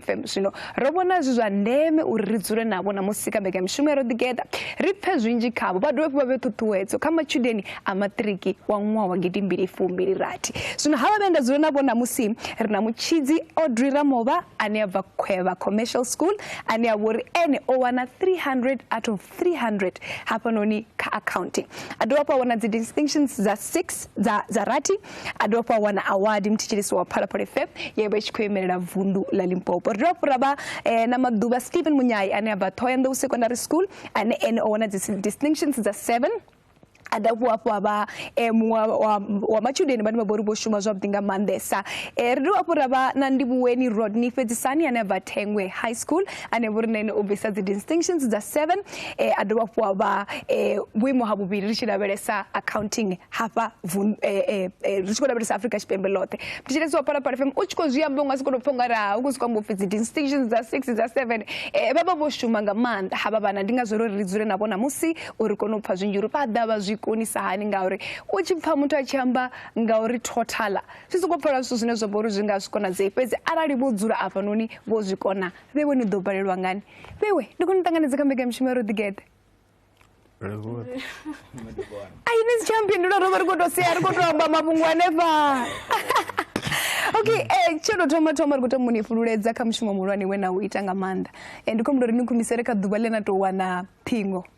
FM. Zwino ro vhona zwi zwa ndeme uri ri dzule navho na musi ka mbekanyamushumo ya ro ḓigeḓa ri pfe zwinzhi khavho vha dovhe vha vhe ṱhuṱhuwedzo kha matshudeni a maṱiriki wa ṅwaha wa gidi mbili fumbili rathi zwino ha vha vhe nda dzule navho na musi ri na mutshidzi audrey ramova ane a bva khwevha commercial school ane a vha uri ene o wana 300 out of 300 hafhanoni kha accounting a dovha hafhu a wana dzi distinctions dza 6 dza, dza rathi a dovha fha wana awadi muthetsheliso wa phalaphala fm ye vha tshi khou imelela vundu la limpopo ri dovha fhura vha eh, na maḓuvha stephen munyai ane a bva thohoyanḓou secondary school ane ene o wana dzi distinctions dza seven a da vhuwa hafhu avha eh, muṅwe wa matshudeni vhane vha vhori vho shuma zwavhuḓi nga maanḓesa eh, ri dovha hafhu ra vha na ndivhuweni rodney fhedzisani ane a bva thengwe high school ane vhori na ene u bvisa dzi distinctions dza seven eh, a dovha hafhu a vha eh, vhuimo ha vhuvhili ri tshi lavhelesa accounting hafha eh, ri tshi khou lavhelesa afrika tshipembe ḽoṱhe thetshelesi wa phalaphala fm u tshi khou zwi amba u nga si kone u pfha nga raha u khou si khou amba upfi dzi distinctions dza six dza seven vha vha vho shuma nga maanḓa havha vhana ndi ngazwo ro ri ri dzule navho namusi uri kone u pfha zwinzhi uri vha ḓa vha zwi konisa hani ngauri u tshi pfha muthu a tshi amba ngauri totala zwi sokou pfala zwithu zwine zwa vha uri zwi nga zwi konadzei fhedzi arali vho dzula afhanoni vho zwi kona vhe vho ni ḓo balelwa ngani vhewe ndi khou ni ṱanganedza kha mbekamishumo ya roḓigeḓe ai ni si tsha mpindula ro vha ri khou tou sea ri khou tou amba mafhungo hanefha okay um tsho tou thoma thoma ri khou tama uni fhululedza kha mushumo muhulwane we na u ita nga maanḓa um ndi khou humbula uri ni khumisele kha ḓuvha ḽe na tou wana ṱhingo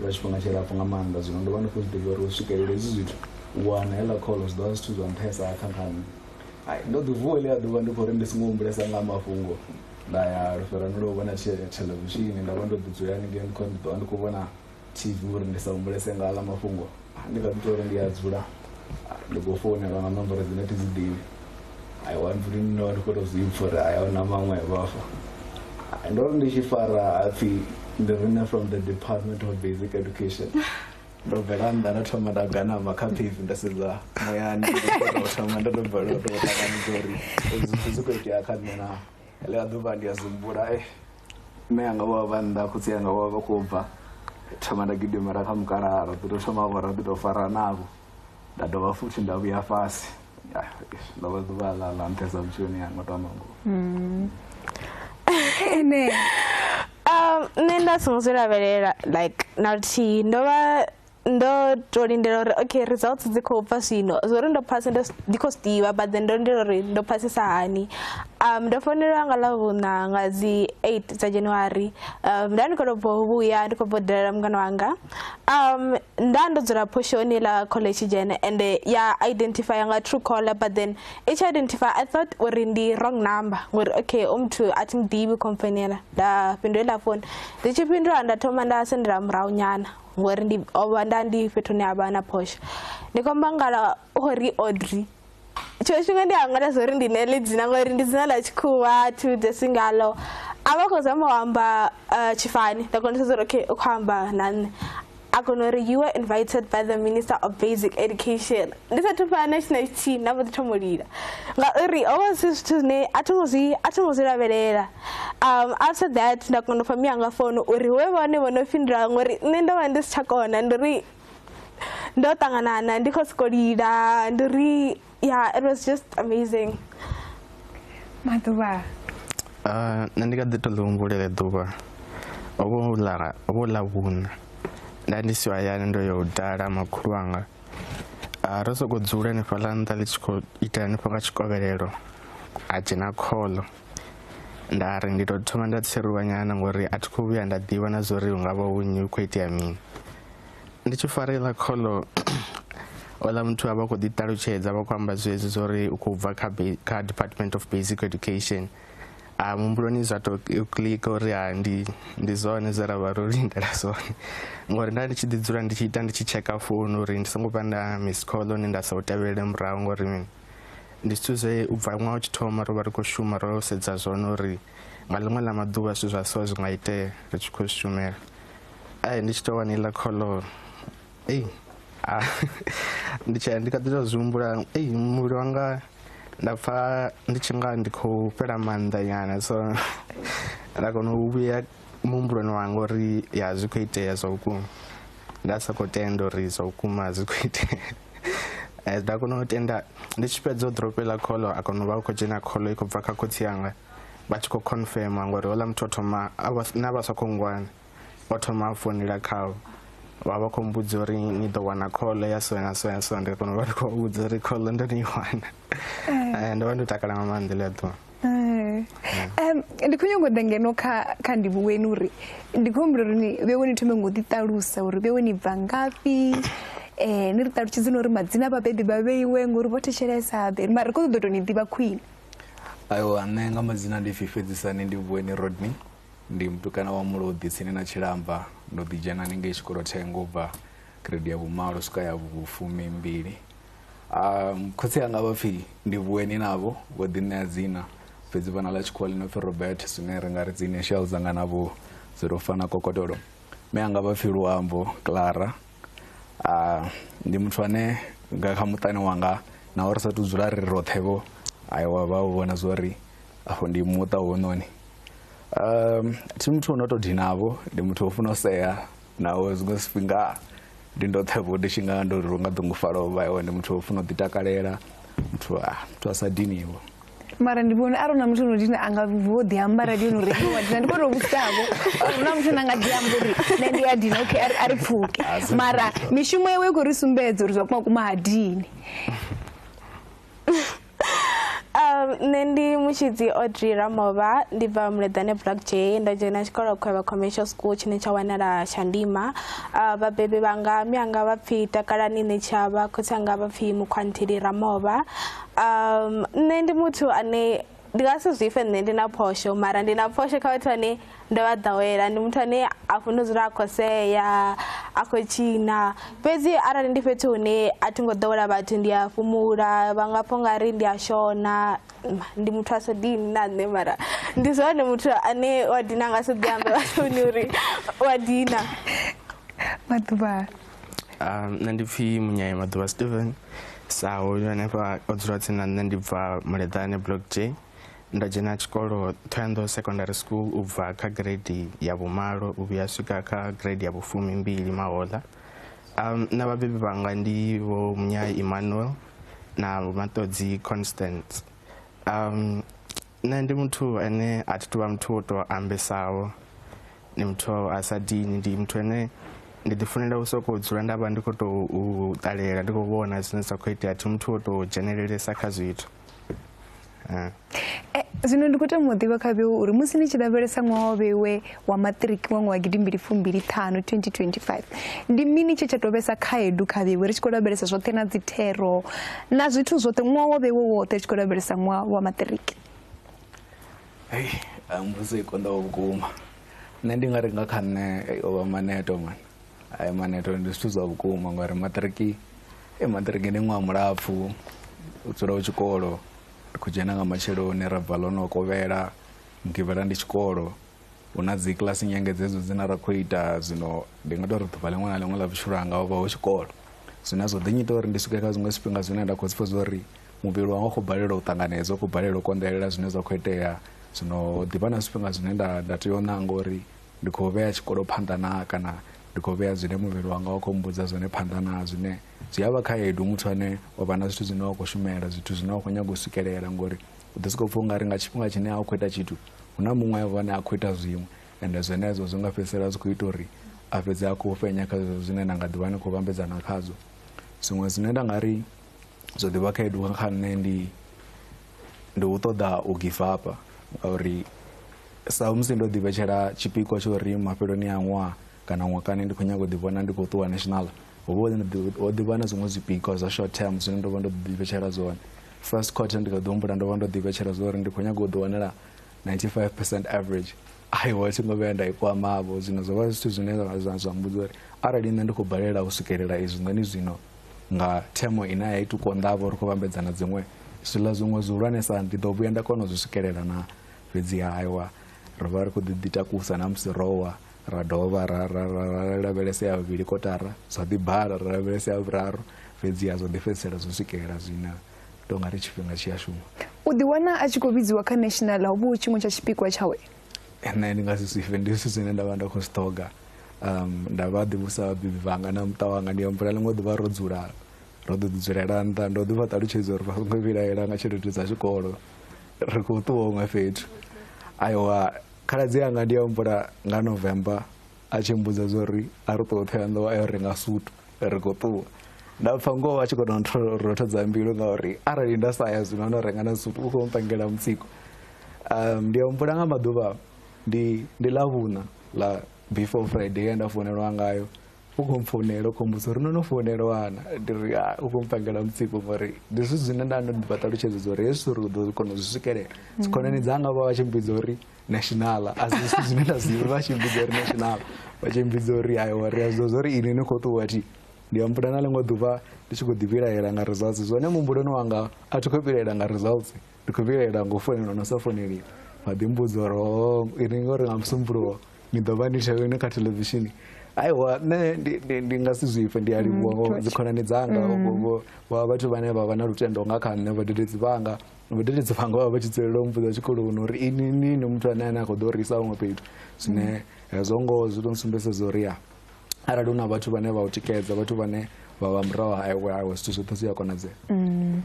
lwa tshifhinga tshilapfhu nga maanḓa zwino ndo vha ndi khou zwi ḓivha uri u swikelela hezwi zwithu u wana heḽa kholo zwi ḓo vha zwithu zwa nṱhesa kha kha nṋe ai ndo ḓi vuwa ḽi a ḓuvha ndi khou ri ndi songo humbulesa nga mafhungo nda ya lufherani lwo vhona theḽevishini nda vha ndo ḓi dzula haningei ndi khou ndi ḓo vha ndi khou vhona tv uri ndi sa humbulese nga aḽa mafhungo ndi nga ḓi tou ri ndi a dzula ndi khou founelwa nga nomboro dzine thi dzi ḓivhi i want to know ndi khou tou zwi pfha uri haya na maṅwe vhafa ndo ri ndi tshi fara hapfhi ndi rine from the department of basic education ndo bvela nnḓa nda thoma nda ganama kha phevi nda sedza muyani thoma ndo ndo bvela ndo ṱanganidza uri zwi khou itea kha nṋe naa ḽiḽa ḓuvha ndi a zwi humbula e mme anga wa vha nnḓa khotsi anga wa vha khou bva thoma nda gidimela kha mukalaha ra ḓi to thoma vho ra ḓi to fara navho nda dovha futhi nda vhuya fhasi ndo vha ḓuvha ḽa ḽa nṱhesa vhutshiloni yanga to amba ngoho mm. ene um nṋe nda songo zwi lavhelela like na luthihi ndo vha ndo to lindela uri okay results dzi khou bva zwino zwo ri ndo phasa ndi khou zwiḓivha but then ndo lindela uri ndo phasisa hani um ndo founelwa nga ḽavhuṋa nga dzi eight dza january um nda ndi khou tou bva u vhuya ndi khou bva u dalela mungana wanga um nda ndo dzula phoshoni ḽa college dzhene ende ya identifya nga true caller but then i tshi identify i thought uri ndi wrong number ngori okay u muthu a thi muḓivhi khomfonela nda fhindula iḽa founu ndi tshi fhindula nda thoma nda sendela murahu nyana ngori ndi ovha nda ndi fhethu hune havha na phosha ndi khou amba ngala ori audrey tshiṅwe tshifhinga ndi a ṅwala zwa uri ndi nele dzina ngori ndi dzina ḽa tshikhuwa thi vhudzesi ngalo a vha khou zama u amba eh, tshifani nda kona u sedza uri okay u khou amba na nṋe a kona uri you were invited by the minister of basic education ndi sathu fana na tshina tshithihi nda mbo ḓi thoma u lila ngauri ho vha zwi zwithu zwine a thi ngo zwi a thi ngo zwi lavhelela um after that nda kona u fha miyanga founu uri hu vhe vhone vho no fhindula ngori nṋe ndo vha ndi si tsha kona ndi uri ndo ṱanganana ndi kho soko lila ndi uri ya it was just amazing maḓuvha nṋe ndi kha ḓi to ḽi humbulela ḓuvha ovho ḽa ovho ḽa vhuna nda ndi si hayani ndo yo dala makhulu anga ro soko dzula hanefhaḽa nṱha ḽi tshi khou ita hanefho nga tshikovhelelo a dzhena kholo nda ri ndi to thoma nda tsheruwa nyana ngori a thi khou vhuya nda ḓivha na zwa uri hu nga vha hu nyi hu khou itea mini ndi tshi fara iḽa kholo ola muthu a vha khou ḓiṱalutshedza vha khou amba zwezwi zwa uri u khou bva kha kha department of basic education a mumbuloni zwa to click uri ha ndi ndi zwone zwe ra vha ro lindela zwone ngori nda ndi tshi ḓi dzula ndi tshi ita ndi tshi tsheka founu uri ndi songo vha nda miss call hone nda sa u tevhelele murahu ngori mini ndi zwithu zwe u bva ṅwaha u tshi thoma ro vha ri khou shuma ro sedza zwone uri nga ḽiṅwe ḽa maḓuvha zwithu zwa so zwi nga itea ri tshi khou shumela ai ndi tshi tou wani iḽa kholo ei ah, ndi tshi ndi kha ḓi tou zwi humbula ei muvhili wanga nda pfa ndi tshi nga ndi khou fhela maanḓa nyana so nda kona u vhuya muhumbuloni wanga uri ya zwi khou itea zwa vhukuma nda sa khou tenda uri zwa vhukuma zwi khou itea eh, nda kona u tenda ndi tshi fhedza u drope ḽa kholo a kona u vha u khou dzhena kholo i khou bva kha khotsi yanga vha tshi khou confirma ngori houḽa muthu o thoma na vha sa khou ngwana o thoma a founela khavho vha vha khou mbudza uri ni ḓo wana kholo ya so na so ya so ndi kona u vha ndi khou vhudza uri kholo ndo ni i wana Eh, ndo vha ndo takala nga maanḓa ḽi a ḓuwa Eh. Em, ndi khou nyongo ḓa ngeno kha kha ndivhu weni uri ndi khou humbula uri ni vhe weni thome ngo ḓi ṱalusa uri vhe weni bva ngafhi um ni ri ṱalutshedze na uri madzina a vhabebi vha vheiwe ngori vho thetshelesa ḓe mara ri khou ṱoḓa u tou ni ḓivha khwine aiwa nṋe nga madzina ndi pfi fhedzisani ndi vhueni rodney ndi mutukana wa mulodi tsini na tshilamba ndo ḓi dzhena ni ngei tshikolo thengo u bva grade ya vhumalo swika ya vhufumi mbili um, khotsi anga vha pfi ndi vhueni navho vho ḓiṋea dzina fhedzi vhana ḽa tshikhuwa ḽi no pfi robert zwine ri nga ri dzi initial dzanga navho dzi tou fana kokotolo me anga vha pfi luambo clara uh, ndi muthu ane nga kha muṱani wanga na uri sa tu dzula ri roṱhe vho ayi wa vha u vhona zwo ri afho ndi muṱa wononi um thi muthu uno to dinavho ndi muthu o funa u sea Naho zwiṅwe zwifhinga ndi ndoṱhe vho ndi tshi nga ndo ri nga ḓungufhala u vha hone muthu o funa u ḓitakalela muthu a muthu a sa diniho mara ndi vhone arali na muthu no dina a nga vho ḓi amba radi yo no ri wa dina ndi vho tou vhudzisavho uri na muthu na nga ḓi amba uri nṋe ndi a dina okay a ri pfuke mara mishumo yawe i khou ri sumbedza uri zwa kuma kuma ha dini um nṋe ndi mutshidzi audrey ramova ndi bva muleḓane black j nda dzhena tshikolo khwevha commercial school tshine tsha wanala shandima uh, vhabebi vhanga mianga vha pfhi takalani nṋe tshavha khotsi anga vha pfhi mukhwantheli ramova um nṋe ndi muthu ane ndi nga si zwifhe nṋe ndi na phosho mara ndi na phosho kha vhathu ane ndo vha ḓowela ndi muthu ane a funa u dzula a khou sea a khou tshina fhedzi arali ndi fhethu hune a thi ngo ḓowela vhathu ndi a fhumula vha nga pfha ungari ndi a shona ndi muthu a so dini na nṋe mara ndi zwone muthu ane wa dina nga so ḓi ambe vhathuni uri wa dina maḓuvha ah, nṋe ndi pfhi munyaye maḓuvha steven sa hoyu hanefha o dzula tsini na nṋe ndi bva muleḓane block j Ndo dzhena tshikolo Thohoyandou Secondary School u bva kha grade ya vhumalo u vhuya swika kha grade ya vhufumi mbili mahoḽa um, na vhabebi vhanga ndi vho Munyai Emmanuel na Matodzi Constance um, nṋe ndi muthu ane a thi tuvha muthu wo tou ambesaho ndi muthu a sa dini ndi muthu ane ndi ḓifunela u sokou dzula nda vha ndi khou tou ṱalela ndi khou vhona zwine zwa khou itea thi muthu wo tou dzhenelelesa kha zwithu zwino ndi khou tama u ḓivha kha vheu uri musi ni tshi lavhelesa ṅwaha wa vheiwe wa maṱiriki wa ṅwaha gidimbili fumbili ṱhanu 2025 ndi mini tshe tsha tou vhesa khaedu kha vheiwe ri tshi khou lavhelesa zwoṱhe na dzithero na zwithu zwoṱhe ṅwaha wa vheiwe woṱhe ri tshi khou lavhelesa ṅwaha wa maṱiriki hei mbudzo i konḓaho vhukuma nṋe ndi nga ri nga kha nṋe o vha maneto mani ai maneto ndi zwithu zwa vhukuma ngauri maṱiriki e maṱiriki ndi ṅwaha mulapfhu u dzula u tshikolo ri khou dzhena nga matsheloni ra bva ḽono kovhela mugivhela ndi tshikolo hu na dzi kiḽasi nyengedzedzo dzine ra khou ita zwino ndi nga tou ri ḓuvha ḽiṅwe na ḽiṅwe ḽa vhutshilo hanga ho vha ho tshikolo zwine zwo ḓinyita uri ndi swike kha zwiṅwe zwifhinga zwine nda khou zwi pfha zwa uri muvhili wanga u khou balelwa u ṱanganedza u khou balelwa u konḓelela zwine zwa khou itea zwino ḓivha na zwifhinga zwine nda nda tea u ṋanga uri ndi khou vhea tshikolo phanḓa na kana ndi khou vhea zwine muvhili wanga wa khou mbudza zwone phanḓa na zwine zwi a vha khaedu muthu ane wa vha na zwithu zwine wa khou shumela zwithu zwine wa khou nyaga u swikelela ngori u ḓi sokou pfha u nga ri nga tshifhinga tshine a u khou ita tshithu hu na muṅwe vhone a khou ita zwiṅwe ende zwenezwo zwi nga fhedzisela zwi khou ita uri a fhedze a khou fhenya kha zwezwo zwine na nga ḓivha ni khou vhambedzana khazwo zwiṅwe zwine nda nga ri zwo ḓivha khaedu kha nṋe ndi ndi u ṱoḓa u give up ngauri Sa musi ndo ḓivhetshela tshipikwa tsha uri mafheloni a ṅwaha kana ṅwakani ndi khou nyaga u ḓivhona ndi khou ṱuwa national ho vha ho ḓivha na zwiṅwe zwipikwa zwa short term zwine ndo vha ndo ḓivhetshela zwone first quarter ndi kha ḓi humbula ndo vha ndo ḓivhetshela zwa uri ndi khou nyaga u ḓiwanela 95 percent average aiwa thi ngo vhuya nda i kwamavho zwino zwo vha zwithu zwine zwa mbudza uri arali nṋe ndi khou balela u swikelela izwi nṋe ni zwino nga themo ine ya ita u konḓavho ri khou vhambedzana dziṅwe zwiḽa zwiṅwe zwihulwanesa ndi ḓo vhuya nda kona u zwi swikelela na fhedzi hawa ro vha ri khou ḓi takusa na musi rowa ra dovha ra ra ra ra lavhelesa ya vhuvhili kotara zwa ḓi bala ra lavhelesa ya vhuraru fhedzi ya zwa ḓi fhedzisela zwo swikelela zwina tou nga ri tshifhinga tshi a shuma u ḓiwana a tshi khou vhidziwa kha national ho vhu tshiṅwe tsha tshipikwa tshawe nṋe ndi nga si zwifhe ndi zwithu zwine nda vha nda khou zwi ṱhoga um nda vha ḓivhusa vhabebi vhanga na muṱa wanga ndi ambula ḽiṅwe ḓuvha ro dzula ro ḓo ḓi dzulela nṱha ndo ḓi vha ṱalutshedza uri vha songo vhilaela nga tshelede dza tshikolo ri khou ṱuwa huṅwe fhethu aiwa khaladzi anga ndi ya humbula nga november a tshi mbudza zwa uri a ri ṱuwa ṱhoya nḓowa a yo renga sutu ri khou ṱuwa nda pfa ngoho a tshi kona rothodza mbilu ngauri arali nda sa ya zwino no renga na sutu u khou mpangela mutsiko um ndi ya humbula nga maḓuvha ndi ndi ḽa vhuṋa ḽa before friday ye nda founelwa ngayo u khou mpfounela u khou mbusa uri no no founelwana ndi ri ah, u khou mpangela mutsiko ngori ndi zwithu zwine nda ndo ḓivha ṱalutshedza uri hezwi uri u ḓo kona u zwi swikelela dzikhonani mm. dzanga vha vha tshi mbidza uri nationala a si zwithu zwine nda zwiva vha tshi mbidza uri nationala vha tshi mbidza uri ayiwa ri a zwiḓo zwa uri ini ni khou ṱuwa thi ndi ambuda na ḽiṅwe ḓuvha ndi tshi khou ḓivhilaela nga results zwone muhumbuloni wanga a thi khou vhilaela nga results ndi khou vhilaela ngo founela no sa founeli vha ḓi mbudza uri oh, ini ngori nga musumbuluwo ni ḓo vha ni tshavheni kha televishini aiwa nṋe ndi nga si zwipfe ndi a livhuwa ngo mm, dzikhonani dzanga mm. vha vhathu vhane vha vha na lutendo nga kha nṋe vhadededzi vhanga vhadededzi vhanga vha vha tshi dzulela u mbudza tshikoloni uri ini nini muthu ane ane a khou ḓo risa huṅwe fhethu zwine hezwo ngoho zwi to nsumbeseza uri ya arali hu na vhathu vhane vha u tikedza vhathu vhane vha vha murahu ha iwe awe zwithu zwoṱhe zwi a konadzea mm.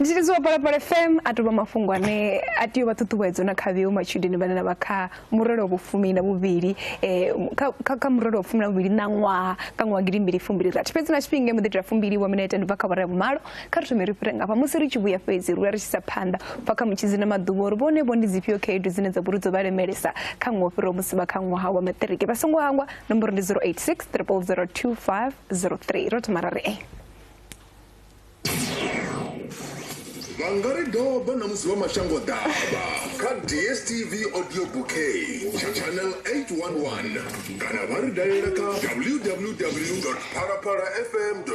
ndi tshi lidziwa palapala fm a tovha mafhungo ane a tea u vha ṱhuṱhuwedzo na kha vheo matshudeni vhane na vha kha murole wa vhufumi na vhuvhili um kha murole wa vhufumi na vhuvhili na ṅwaha kha ṅwaha gidi mbili fumbili rathi fhedzi na tshifhinga muḓi itela fumbili wa minete ndi bva kha vhara ya vhumalo Kha ri thome ri fhire ngafha musi ri tshi vhuya fhedzi ri ri tshi sa phanḓa bva kha mutshidzi na maḓuvha uri vhone vho ndi dzifhio khaedu dzine dza vhori dzo vha lemelesa kha ṅwaha fhiraho musi vha kha ṅwaha wa maṱiriki vha songo hangwa nomboro ndi 086 3002503 ro thoma ra ri e vha nga ri doba na musi vha mashango ḓavha kha dstv audio bouquet tsha channel 811 kana vha ri dalela kha www parapara fm co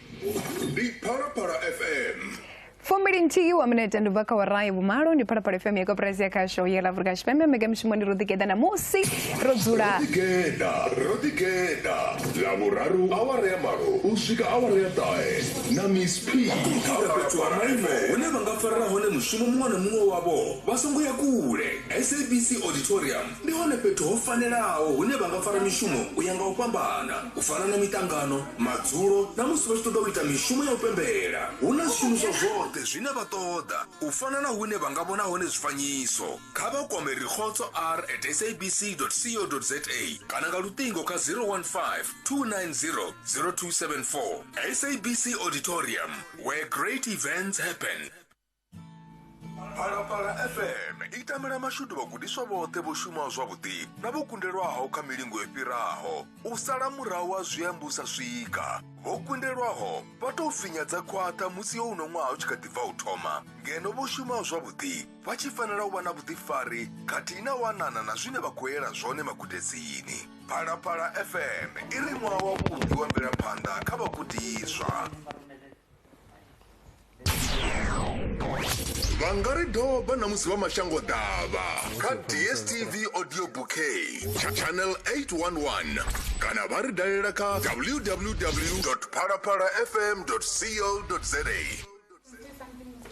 ndi phalaphala fm fumbili nthihi wa minete ndi bva kha wara ya vhumalo ndi phalaphala fm ya koperasi ya khasho ya la afurika tshipembe mbekamishumondi ro ḓigeḓa ṋamusi ro dzula ḓigeḓa ro ḓigeḓa ḽa vhuraru awara ya malo u swika awara ya ṱahe na miss p kha uri fhethu ha maimo hune vha nga farela hone mushumo muṅwe na muṅwe wavho vha songo ya kule sabc auditorium Ndi hone fhethu ho fanelaho hune vha nga fara mishumo u ya nga u fhambana, u fana na miṱangano, madzulo na musi vha tshi ṱoḓa u ita mishumo ya u pembela. Hu na zwishumiswa zwoṱhe zwine vha ṱoḓa, u fana na hune vha nga vhona hone zwifanyiso. Kha vha kwame Rikhotso R at sabc dot co dot za kana nga luṱingo kha 015 290 0274. SABC Auditorium, where great events happen. phalaphala fm i tamela mashudu vhagudiswa vhoṱhe vho shumaho zwavhuḓi na vho kundelwaho kha milingo i fhiraho u sala murahu wa zwiambu sa swika vho kundelwaho vha tou finyadza khwaṱha musi yo uno ṅwaha u tshi kha ḓi bva u thoma ngeno vho shumaho zwavhuḓi vha tshi fanela u vha na vhuḓifari khathihi na wanana na zwine vha khou yela zwone magudedzini phalaphala fm i ri ṅwaha wavhuḓi wa mvelaphanḓa kha vhagudiswa vha nga ri doba na musi vha mashango ḓavha kha dstv audio bouquet tsha channel 811 kana vha ri dalela kha www phalaphalafm co za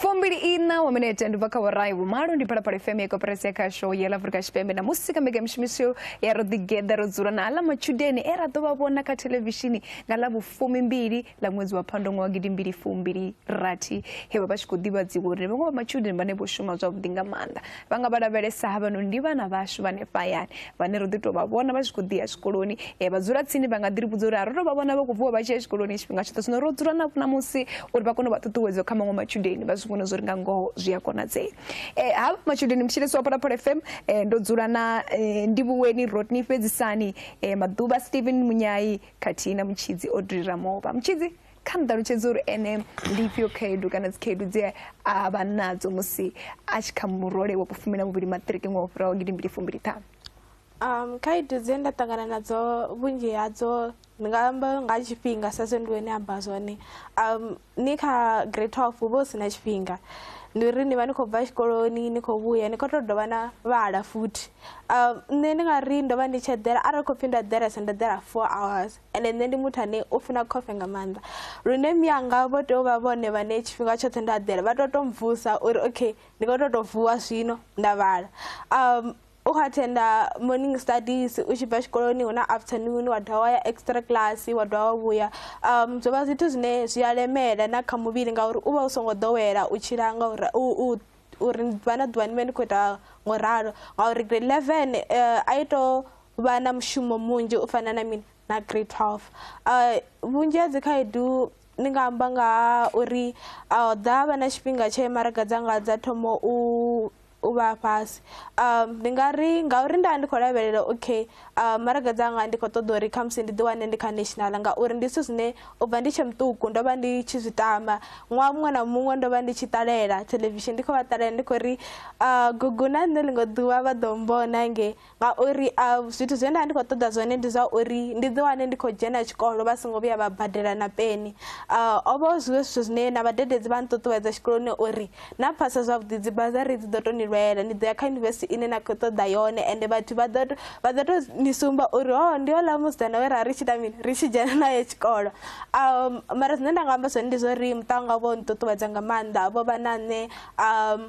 fumbili ina wa minete ndi bva kha vhorai vhumalo ndi phalaphala fm ya koperasi ya khasho ya lafurika tshipembe na musi kha mbekanyamushumisho ya ro ḓigeḓa ro dzula na aḽa matshudeni e ra ḓo vha vhona kha thelevishini nga ḽa vhufumi mbili ḽa ṅwedzi wa phando ṅwa wa gidi mbili fumbili rathi he vha vha tshi khou ḓivhadziwa uri vhaṅwe vha matshudeni vhane vho shuma zwavhuḓi nga maanḓa vha nga vha lavhelesa havhanoni ndi vhana vhashu vhane fhayani vhane ro ḓi tou vha vhona vha tshi khou ḓi ya tshikoloni eh, vha dzula tsini vha nga ḓi ri vhudza uri a ro tou vha vhona vha khou vuwa vha tshi ya tshikoloni tshifhinga tshoṱhe zwino ro dzula navho ṋamusi uri vha kone u vha ṱuṱuwedzo kha maṅwe matshudeni vha zwi vhone zwo ri nga ngoho zwi a konadzea eh, ha matshudeni mutshilesi wa phalaphala fm eh, ndo dzula na eh, ndivhuweni rodney fhedzisani eh, maḓuvha stephen munyai khathihi na mutshidzi odri ramova mutshidzi kha nṱalutshedze uri ene ndi ifhio khaedu kana dzikhaedu dze a vha nadzo musi a tshi kha murole wa kufumi na muvhili maṱiriki ṅwaha u fhiraho gidi mbili fumbili ṱhanu um khaedu dze nda ṱangana nadzo vhunzhi hadzo ndi nga amba nga tshifhinga sa zwe ndi wene amba zwone um ni kha grade twelve hu vha hu si na tshifhinga ndi uri ni vha ni khou bva tshikoloni ni khou vhuya ni khou tou dovha na vhala futhi um nṋe ndi nga ri ndo vha ndi tshi eḓela arali khou pfhi ndo eḓelesa ndo eḓela four hours ende nṋe ndi muthu ane u funa khofe nga maanḓa lune miyanga vho tea u vha vhone vhane tshifhinga tshoṱhe nda ḓela vha to to mvusa uri okay ndi kho to to vuwa zwino nda vhala um u kha thenda morning studies u tshi bva tshikoloni hu na afternoon wa dovha wa ya extra class wa dovha wa vhuya um zwo vha zwithu zwine zwi a lemela na kha muvhili ngauri u vha u songo ḓowela u tshila ngauri u uri ni ḓuvha na ḓuvha ni vhe ni khou ita ngo ralo ngauri grade eleven um a i to vha na mushumo munzhi u fana na mini na grade twelve um vhunzhi ha dzikhaedu ni nga amba nga ha uri a ho ḓa vha na tshifhinga tshe maraga dzanga dza thoma u u vha fhasi um ndi nga ri ngauri nda ndi khou lavhelela okay Uh, maraga dzanga ndi khou ṱoḓa uri khamusi ndi ḓiwane ndi kha national ngauri ndi zwithu zwine u bva ndi tshe muṱuku ndo vha ndi tshi zwi tama ṅwaha muṅwe na muṅwe ndo vha ndi tshi ṱalela television ndi khou vha ṱalela ndi khou ri uh, gugu na nṋe ḽiṅwe ḓuvha vha ḓo mbona nge ngauri uh, zwithu zwine nda ndi khou ṱoḓa zwone ndi zwa uri ndi ḓiwane ndi khou dzhena tshikolo vha songo vhuya vha badela na peni uh, o vha zwiwe zwithu zwine na vhadededzi vha nṱuṱuwedza tshikoloni uri na phasa zwavhuḓi dzi bazari dzi ḓo to ni lwela ni ḓo ya kha yunivesithi ine na khou ṱoḓa yone ende vhathu vha ḓo vha ḓo to ni sumba uri ho oh, ndi ola musidzana we ra ri tshi ita mini ri tshi dzhena naye tshikolo um mara zwine nda nga amba zwone ndi zwa uri muṱa wanga vho nṱuṱuwedza nga maanḓa vho vha na nṋe um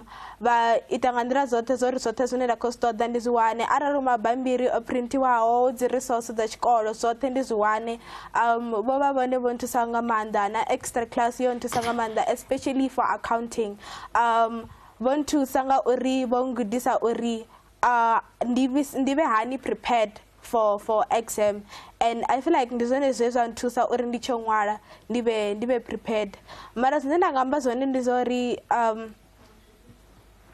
vha ita nga nḓila dzoṱhe zwo ri zwoṱhe zwine nda khou zwi ṱoḓa ndi zwi wane arali mabambiri o printiwaho dzi resource dza tshikolo zwoṱhe ndi zwi wane um vho vha vhone vho nthusa nga maanḓa na extra class yo nthusa nga maanḓa especially for accounting um vho nthusa nga uri vho ngudisa uri uh, ndi vhe hani prepared for for exam and i feel like ndi zwone zwe zwa nthusa uri ndi tsho ṅwala ndi vhe ndi vhe prepared mara zwine nda nga amba zwone ndi zwa uri um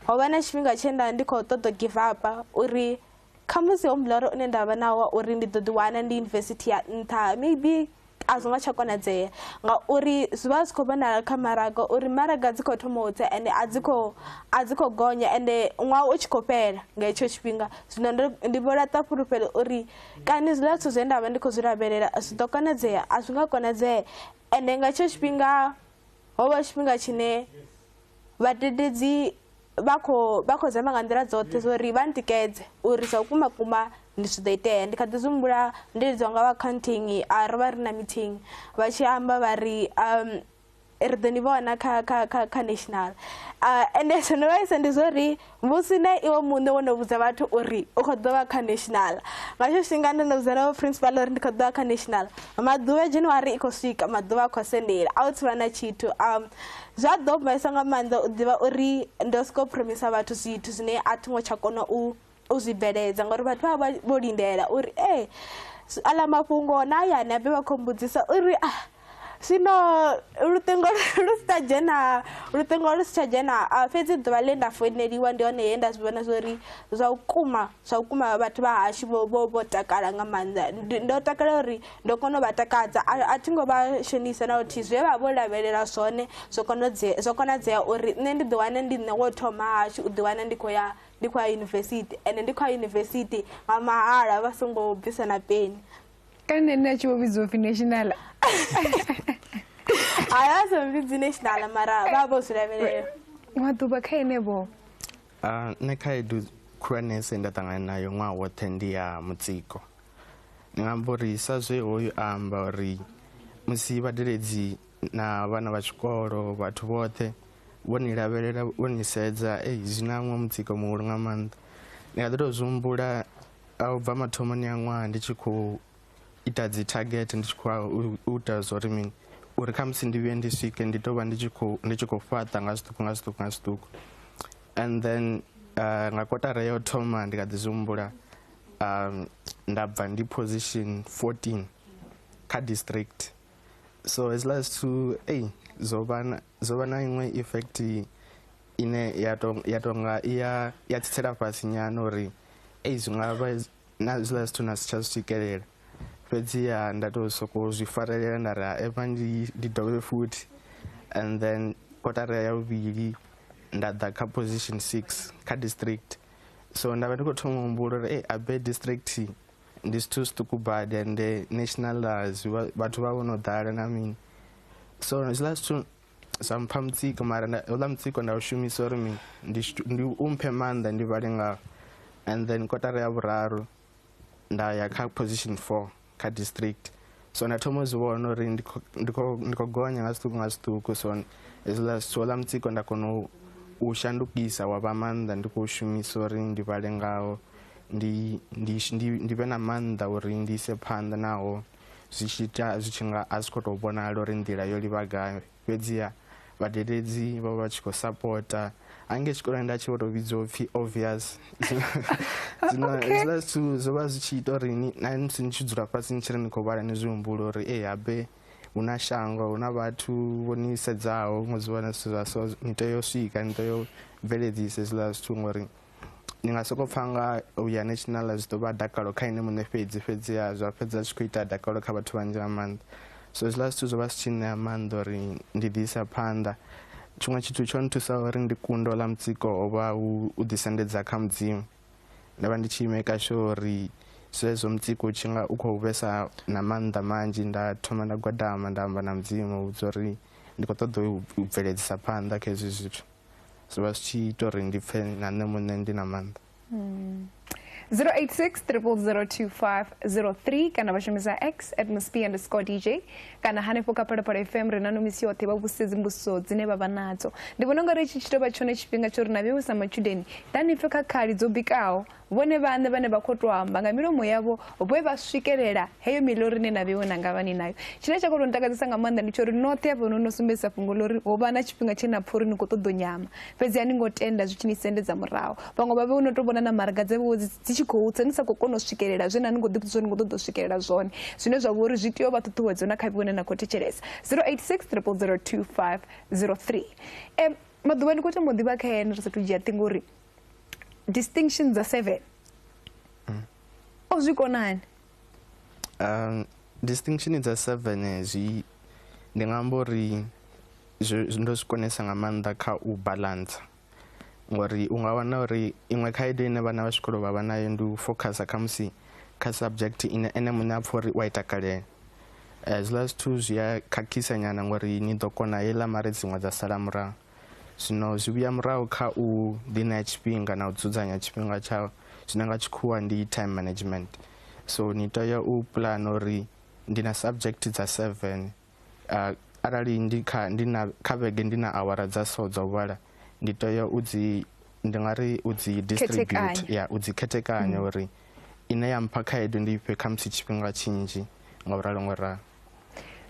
ho vha na tshifhinga tshe nda ndi khou ṱoḓa give up uri khamusi ho muloro une nda vha nawo wa uri ndi ḓo ḓiwana ndi yunivesithi ya nṱha maybe a zwo nga tsha konadzea ngauri zwi vha zwi khou vhonala kha maraga uri maraga dzi khou thoma u tsa ende a dzi khou a dzi khou gonya ende ṅwaha u tshi khou fhela nga hetsho tshifhinga zwino ndi vho laṱa fhulufhelo uri kani zwiḽa zwithu zwe nda vha ndi khou zwi lavhelela zwi ḓo konadzea a zwi nga konadzee ende nga hetsho tshifhinga ho vha tshifhinga tshine Vhadededzi vha kho vha kho zama nga nḓila dzoṱhe zwo ri vha ntikedze uri zwa vhukuma kuma ndi zwi ḓo itea ndi kha ḓi zwi humbula ndi lidziwa nga vha accounting a ro vha ri na meeting vha tshi amba vha ri um ri ḓo ni vhona kha kha kha kha national ende zwo no vhaisa ndi zwo ri musi na iwe muṋe wo no vhudza vhathu uri u khou ḓo vha kha national nga tsho tshifhinga ndo no vhudza na vhoprincipal uri ndi khou ḓo vha kha national maḓuvha ya january i khou swika maḓuvha a khou sendela a u thivha na tshithu um zwa ḓo mbaisa nga maanḓa u ḓivha uri ndo soko promisa vhathu zwithu zwine a thi ngo tsha kona u u zwi bveledza ngauri vhathu vha vha vho lindela uri ee aḽa mafhungo na hayani abe vha khou mbudzisa uri ah zwino luṱingo lu si tsha dzhena luṱingo lu si tsha dzhena ah, fhedzi ḓuvha ḽe nda foineliwa ndi hone he nda zwi vhona zwori zwa vhukuma zwa vhukuma vhathu vha hashu vho takala nga maanḓa ndo takala uri ndo kona u vha takadza a thi ngo vha shonisa na luthihi zwe vha vho lavhelela zwone zwo konodzea zwo konadzea uri nṋe ndi ḓiwane ndi nṋe wo thoma hashu u ḓiwana ndi khou ya ndi khou ya yunivesithi ende ndi khou ya yunivesithi nga mahala vha songo bvisa na peni kane nṋe a tshi vho vhidziwa upfhi national haya a sa vhidzi national mara vha vho zwi lavhelela maḓuvha kha ene vho ah, nṋe khaedu khulwanese nda ṱangana nayo ṅwaha woṱhe ndi ya mutsiko ndi nga amba uri sa zwe hoyu a amba uri musi vhadeledzi na vhana vha tshikolo vhathu vhoṱhe vho ni lavhelela vho ni sedza ei zwi na ṅwe mutsiko muhulu nga maanḓa ndi nga ḓi tou zwi humbula a u bva mathomoni a ṅwaha ndi tshi khou ita dzi target ndi tshi khou u ita zwa uri mini uri kha musi ndi vhuye ndi swike ndi tou vha ndi tshi khou ndi tshi khou fhaṱa nga zwiṱuku nga zwiṱuku nga zwiṱuku and then uh, nga kotara yo thoma ndi kha ḓi zwi humbula um, nda bva ndi position 14 kha district so hezwiḽa zwithu ei zwo vha na iṅwe effect ine ya to ya tonga ya ya tsitsela fhasi nyana uri ei zwi nga vha na zwiḽa zwithu na si tsha zwi swikelela fhedzi ya nda to soko zwi farelela nda ri epa ndi ndi dovhe futhi and then kotara ya vhuvhili nda ḓa kha position six kha district so nda vha ndi khou thoma humbulo uri e abe district ndi zwithu zwiṱuku badi ende national zwi vhathu vha vho no ḓala na mini so zwiḽa zwithu Sa mpha mutsiko mara uḽa mutsiko nda u shumisa uri mini ndi u mphe maanḓa ndi vhale ngawo and then kotara ya vhuraru nda ya kha position four kha district so nda thoma u zwi vhona uri ndi khou gonya nga zwiṱuku nga zwiṱuku so hezwiḽa zwithu oḽa mutsiko nda kona u shandukisa wa vha maanḓa ndi khou shumisa uri ndi vhale ngawo ndi vhe na maanḓa uri ndi ise phanḓa naho zwi tshi ita zwi tshi nga a zwi khou tou vhonala uri nḓila yo livha gai fhedziha vhadededzi vho vha tshi khou sapota hange tshikoloni nda tshi vho tou vhidzwa upfhi obvious zwino hezwiḽa zwithu zwo vha zwi tshi ita uri ni na musi ni tshi dzula fhasi ni tshi ri ni khou vhala ni zwi humbulo uri e habe hu na shango hu na vhathu vho ni sedzaho ngo zwi vhona zwithu zwa so ni tea u swika ni tea u bveledzisa hezwiḽa zwithu ngori ni nga sokou pfha nga u ya national zwi ḓo vha dakalo kha ine muṋe fhedzi fhedziha zwa fhedza zwi khou ita dakalo kha vhathu vhanzhi nga maanḓa so zwiḽa zwithu zwo vha zwi tshi ṋea maanḓa uri ndi ḓi isa phanḓa tshiṅwe tshithu tsho nthusa uri ndi kundo ḽa mutsiko ho vha hu u ḓisendedza kha mudzimu nda vha ndi tshi imeka sho uri zwezwo mutsiko u tshi nga u khou vhesa na maanḓa manzhi nda thoma nda gwadama nda amba na mudzimu vhudza uri ndi khou ṱoḓa u bveledzisa phanḓa kha hezwi zwithu zwi vha zwi tshi ita uri ndi pfhe na nṋe muṋe ndi na maanḓa 086 002503 kana vha shumisa x at msp underscore dj kana hanefho kha phalaphala fm ri na no misi yoṱhe vha vhusedzi mbudziso dzine vha vha nadzo ndi vhona ungari itshi tshi tovha tshone tshifhinga tsho ri na vheiwe sa matshudeni ḓani pfe kha khali dzo bikaho vhone vhaṋe vhane vha khou tou amba nga milomo yavho vhe vha swikelela heyo milori ine na vheiwe na nga vhani nayo tshine tsha khou tou ntakadzisa nga maanḓa ndi tsho uri noṱhe hafho no no sumbedzisa fhungo ḽo uri ho vha na tshifhinga tshe na pfha uri ni khou ṱoḓo nyama fhedzi a ni ngo tenda zwi tshi ni sendedza murahu vhaṅwe vha vhe no tou vhona na maraga dza vhewe dzi tshi khou tsa ni sa khou kona u swikelela zwe na ni khou ḓipfisa uri ni khou ṱoḓa u swikelela zwone zwine zwa vha uri zwi tea u vha ṱhuṱhuwedzo na kha vheiwe ne na khou thetshelesa 086 0002503 um maḓuvha ndi khou tama u ḓivha kha ene ri sathu dzhia ṱhingo uri distinctions dza seven mm. o zwi konani um distinction dza seven eh, zwi ndi nga amba uri ndo zwi konesa nga maanḓa kha u balance ngori u nga wana uri iṅwe khaedu ine vhana vha zwikolo vha vha nayo ndi u focusa khamusi kha subject ine ene muṋe a pfha uri u a i takalela eh, zwiḽa zwithu zwi a khakhisa nyana ngori ni ḓo kona heiḽa mare dziṅwe dza sala murahu Zwino zwi vhuya murahu kha u ḓiṋea tshifhinga na u dzudzanya tshifhinga tsha zwine nga tshikhuwa ndi time management so ni tea u pulana uri ndi na subject dza seven uh, arali ndi kha ndi na kha vhege ndi na awara dza so dza u vhala ndi tea u dzi ndi nga ri u dzi distribute ya u dzi khethekanya mm. uri ine ya mpha khaedu ndi ifhe khamusi tshifhinga tshinzhi nga u ralo ngo ralo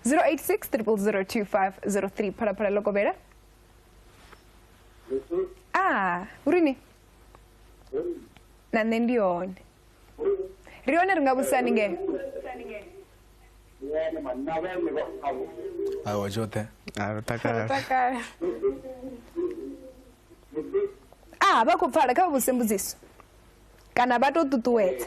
086 0002503 phalaphala lokobera ah urini na nṋe ndi hone ri hone ri nga vhudzisa haningei awa tshoṱhe a ro takala takala ah vha khou pfala kha vha vhudzise mbudziso kana vha tou ṱuṱuwedza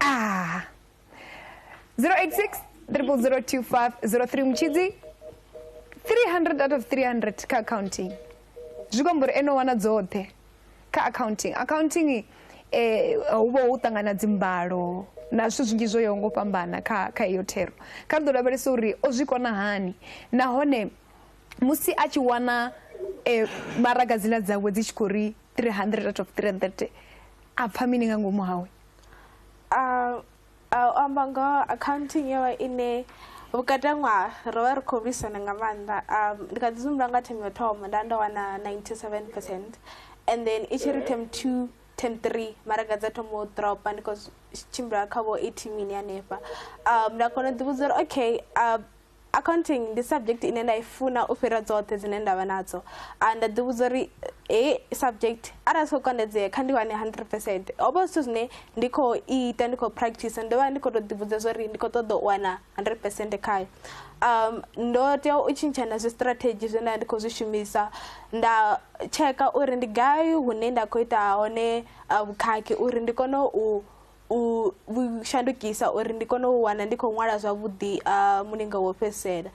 ah 086 002503 muchidzi 300 out of 300 ka accounting zvikombori enowana dzothe ka accounting accounting hu eh, vha hu ṱangana dzimbalo na zwithu zwinzhi zwo yaho ngo fhambana kha kha iyo thero kha ri ḓo lavhelesa uri o zwi kona hani nahone musi a tshi wana um eh, maragadzina dzawe dzi tshi khou ri 300 out of 330 a pfa mini nga ngomu hawe a amba ngoho accounting yo vha ine vhukati ha ṅwaha ro vha ri khou lwisana nga maanḓa um ndi kha ḓi zumbula nga themu yo thoma nda ndo wana 97 percent and then i tshi ri themu two themu three maraga dza thoma u dropa ndi khou tshimbila kha vho eighteen mini hanefha um nda kona u ḓivhudza uri okay um accounting ndi subject ine nda i funa u fhira dzoṱhe dzine nda vha nadzo a nda ḓivhudza uri hei subject arali siko kondedzea kha ndi wane hundred percent ho vha zwithu zwine ndi khou ita ndi khou practice ndo vha ndi khou tou ḓivhudza zwa uri ndi khou ṱoḓa u wana hundred percent khayo um ndo tea u tshintsha na zwistrategy zwe nda ndi khou zwi shumisa nda tsheka uri ndi gai hune nda khou ita hone vhukhakhi uri ndi kone u u vhu shandukisa uri ndi kone u wana ndi khou ṅwala zwavhuḓi mulingo wo fhedzisela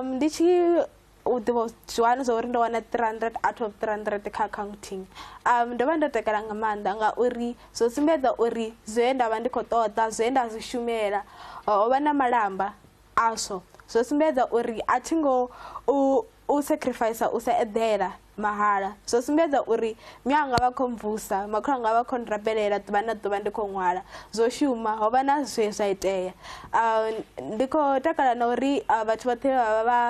ndi tshi u ḓivha zwi wana zwa uri ndo wana three hundred out of three hundred kha accounting ndo vha ndo takala nga maanḓa ngauri zwo sumbedza uri zwe nda vha ndi khou ṱoḓa zwe nda zwi shumela ho vha na malamba Aswo zwo sumbedza uri a thi ngo u u sacrificer u sa eḓela mahala. Zwo sumbedza uri mme anga vha khou mvusa, makhulu anga vha khou nrabelela ḓuvha na ḓuvha ndi khou ṅwala. Zwo shuma, ho vha na zwe zwa itea. Ndi khou takala na uri vhathu vhoṱhe vha vha vha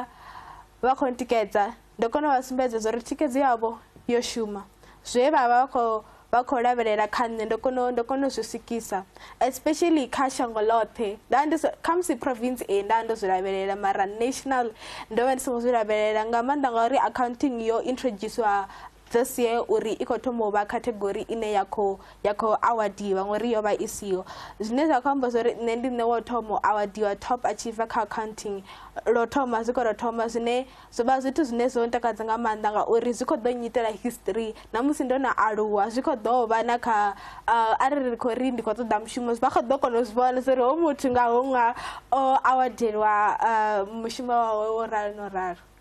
vha khou ntikedza Ndo kona u vha sumbedza zwa uri thikhedzo yavho yo shuma. Zwe vha vha khou vha khou lavhelela kha nṋe ndo kona ndo kona u zwi swikisa especially kha shango ḽoṱhe nda ndi kha musi province e nda ndo zwi lavhelela mara national ndo vha ndi songo zwi lavhelela nga maanḓa ngauri accounting yo introducer this year uri i khou thoma u vha category ine ya khou ya khou awadiwa ngori yo vha i siho zwine zwa khou amba zwa uri nṋe ndi nṋe wo thoma u awadiwa top achiever kha accounting lo thoma zwi khou ro thoma zwine zwo vha zwithu zwine zwo ntakadza nga maanḓa ngauri zwi khou ḓo nyitela history na musi ndo no aluwa zwi khou ḓo vha na kha uh, arali ri khou ri ndi khou ṱoḓa mushumo vha khou ḓo kona u zwi vhona zwa uri ho muthu nga ho nga o awadelwa uh, mushumo wawe wo ralo no ralo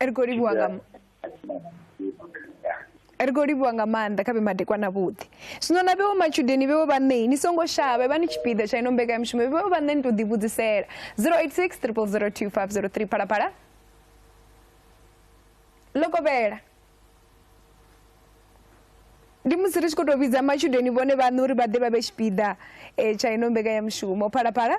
ri khou livhuwa nga ri khou livhuwa nga maanḓa kha vhe madekwana vhuḓi zwino na vhewo matshudeni vhewo vhaṋei ni songo shavha vha ni tshipiḓa tsha ino mbekanyamushumo vhewo vhaṋe ni tou ḓivhudzisela 086 002503 phalaphala lokovhela ndi musi ri tshi khou tou vhidza matshudeni vhone vhaṋe uri vha ḓe vha vhe tshipiḓa um tsha ino mbekanyamushumo phalaphala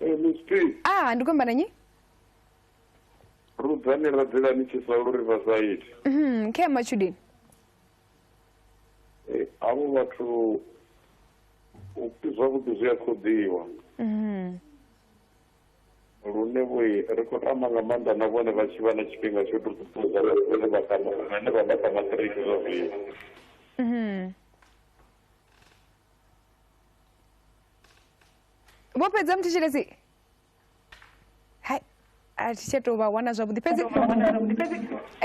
mistake ah ndi kuimba nanyi rudzani ra dzila ni tshi sa lu riverside Mhm, khe matshudeni Eh, avho vhathu u- zwavhuḓi zwi a khoḓiwa Mhm. lune vho ri khou tama nga maanḓa na vhone vha tshi vha na tshifhinga tsho tou ṱuṱuwedza vhathu vhane vha kama vhane vha vha kama ṱiriki zwa zwino Mhm. vho fhedza muthetshelesi hai a thi tsha tou vha wana zwavhuḓi fhedzi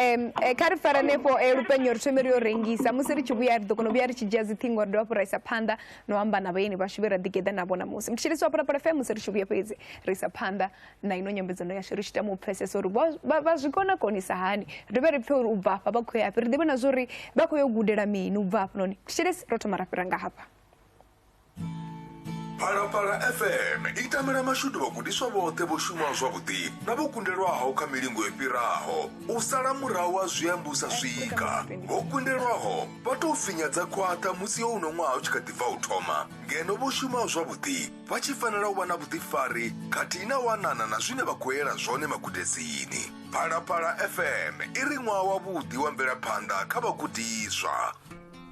um kha ri fara nefho eh, lupenyo ri thome ri yo rengisa musi ri tshi vhuya ri ḓo kona u vhuya ri tshi dzhia dziṱhingo ri dovha fhu ra isa phanḓa no amba na vhaeni vhashu vhe ra ḓigeḓa navho ṋamusi muthetshelesi wa phalaphala fm musi ri tshi vhuya fhedzi ri isa phanḓa na ino nyambedzano yashu ri tshi tama u pfesesa uri vha- vha vha zwi kona konisa hani ri dovhe ri pfe uri u bva hafha vha khou ya hafhi ri ḓivhe na zwa uri vha khou yo gudela mini u bva hafha noni thetshelesi ro thoma ra fhira nga hafha phalaphala fm i tamela mashudu vhagudiswa vhoṱhe vho shumaho zwavhuḓi na vho kundelwaho kha milingo i fhiraho u sala murahu ha zwiambu sa swika vho kundelwaho vha tou finyadza khwaṱha musi yo uno ṅwaha u tshi kha ḓi bva u thoma ngeno vho shumaho zwavhuḓi vha tshi fanela u vha na vhuḓifari khathihi na wanana na zwine vha khou yela zwone magudedzini phalaphala fm i ri ṅwaha wavhuḓi wa mvelaphanḓa kha vhagudiswa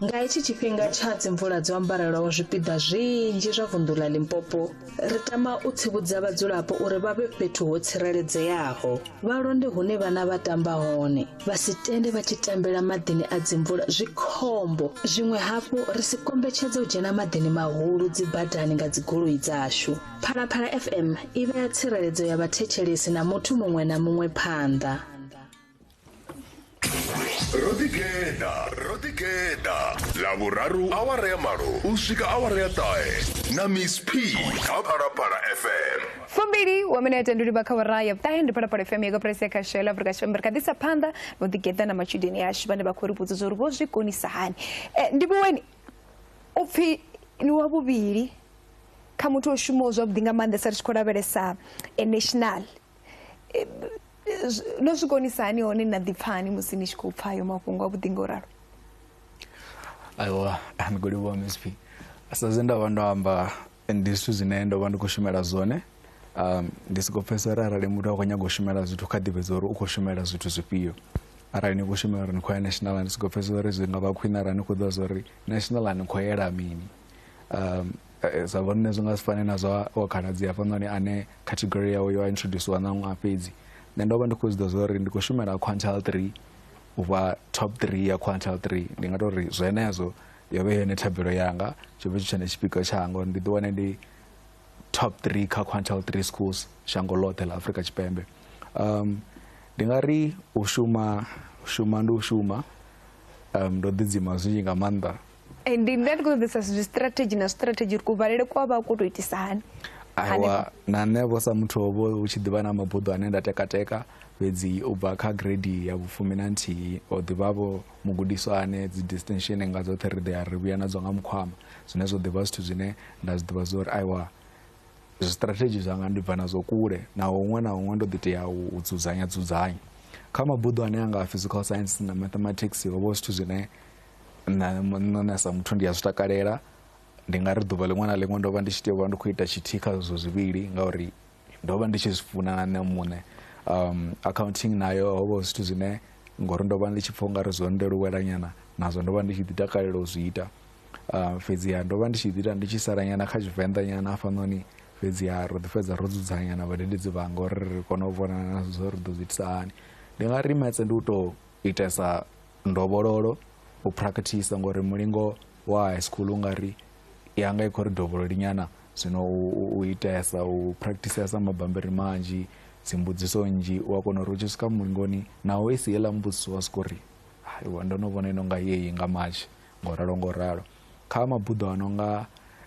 Nga hetshi tshifhinga tsha dzimvula dzo ambarelaho zwipiḓa zwinzhi zwa vunḓu ḽa Limpopo, ri tama u tsivhudza vhadzulapo uri vha vhe fhethu ho tsireledzeaho, vha londe hune vhana vha tamba hone, vha si tende vha tshi tambela maḓini a dzimvula zwi khombo zwiṅwe hafhu ri si kombetshedza u dzhena maḓini mahulu dzibadani nga dzigoloi dzashu phalaphala fm i vhea tsireledzo ya vhathetshelesi na muthu muṅwe na muṅwe phanḓa ro ḓigeḓa ro ḓigeḓa ḽavhuraru awara ya malo u swika awara ya ṱahe na miss p kha phalaphala fm fumbili wa minete ndi liba kha wara ya vhuṱahe ndi phalaphala fm yako press ya kha shela afurika tshipembe ri kha ḓisa phanḓa no ḓigeḓa na matshudeni ashu vhane vha khou ri vhudza uri vho zwi konisa hani eh, ndi vhuweni u pfhi ni wa vhuvhili kha muthu o shumaho zwavhuḓi nga maanḓesa ri tshi khou lavhelesa eh, national eh, no zwi konisa hani hone na ḓipfani musi ni tshi khou pfha ayo mafhungo avhuḓi nga u ralo aiwa ndi khou livhuwa msp sa zwe nda vha ndo amba ndi zwithu zwine ndo vha ndi khou shumela zwone um ndi soko pfhesesa uri arali muthu a khou nyaga u shumela zwithu kha ḓivhedza uri u khou shumela zwithu zwifhio arali ni khou shumela uri ni khou ya national ndi soko pfhesesa uri zwi nga vha khwine arali ni khou ḓivha zwa uri national ni khou yela mini um sa vhone nṋe zwi nga si fane na zwa wa khaladzi hafhanoni ane category yawe yo introduciwa na ṅwaha fhedzi nṋe ndo vha ndi khou zwi ḓa zwa uri ndi khou shumela quantal three u vha top three ya quantal three ndi nga tou ri zwenezwo yo vhe yone thabelo yanga tsho vhe tshi tshone tshipikwa tshanga uri ndi ḓi wane ndi top three kha quantal three schools shango ḽoṱhe ḽa afrika tshipembe um ndi nga ri u shuma u shuma ndi u shuma um ndo ḓidzima zwinzhi nga maanḓa Eh, ndi nda ndi khou ṱoḓesa zwi strategy na strategy uri kuvalele kwa vha ku to itisa hani aiwa na nṋe vho sa muthu ovho hu tshi ḓivha na mabuḓo ane nda tekateka fhedzi u bva kha grade ya vhufumi na nthihi o ḓivhavho mugudiswa ane dzi distinction nga dzoṱhe ri ḓea ri vhuya nadzo nga mukhwama zwine zwo ḓivha zwithu zwine nda zwi ḓivha zwa uri aiwa zwistrategy zwanga ndi bva nazwo kule naho huṅwe na huṅwe ndo ḓi tea u dzudzanya dzudzanya kha mabuḓo ane anga a physical science na mathematics ho vha zwithu zwine nṋe sa muthu ndi a zwi takalela ndi nga ri ḓuvha ḽiṅwe na ḽiṅwe ndo vha ndi tshi tea u vha ndi khou ita tshithihi kha zwezwo zwivhili ngauri ndo vha ndi tshi zwi funa na nṋe muṋe um accounting nayo ho vha zwithu zwine ngori ndo vha ndi tshi pfha u nga ri zwo ndeluwela nyana nazwo ndo vha ndi tshi ḓi takalela u zwi ita um fhedziha ndo vha ndi tshi ḓi ita ndi tshi sala nyana kha tshivenḓa nyana hafhanoni fhedziha ro ḓi fhedza ro dzudzanya na vhadededzi vhanga uri ri kone u vhonana zwo ri ḓo zwi itisa hani ndi nga ri metse ndi u tou itesa ndovhololo u practice ngori mulingo wa high school u nga ri yanga i khou ri dovhololi nyana zwino u itesa u practicesa mabambiri manzhi dzimbudziso nnzhi u a kona uri u tshi swika mulingoni naho i si yeḽa mbudziso wa swika uri aiwa ndo no vhona ino nga yeyi nga matshi ngo ralo ngo ralo kha mabuḓo a no nga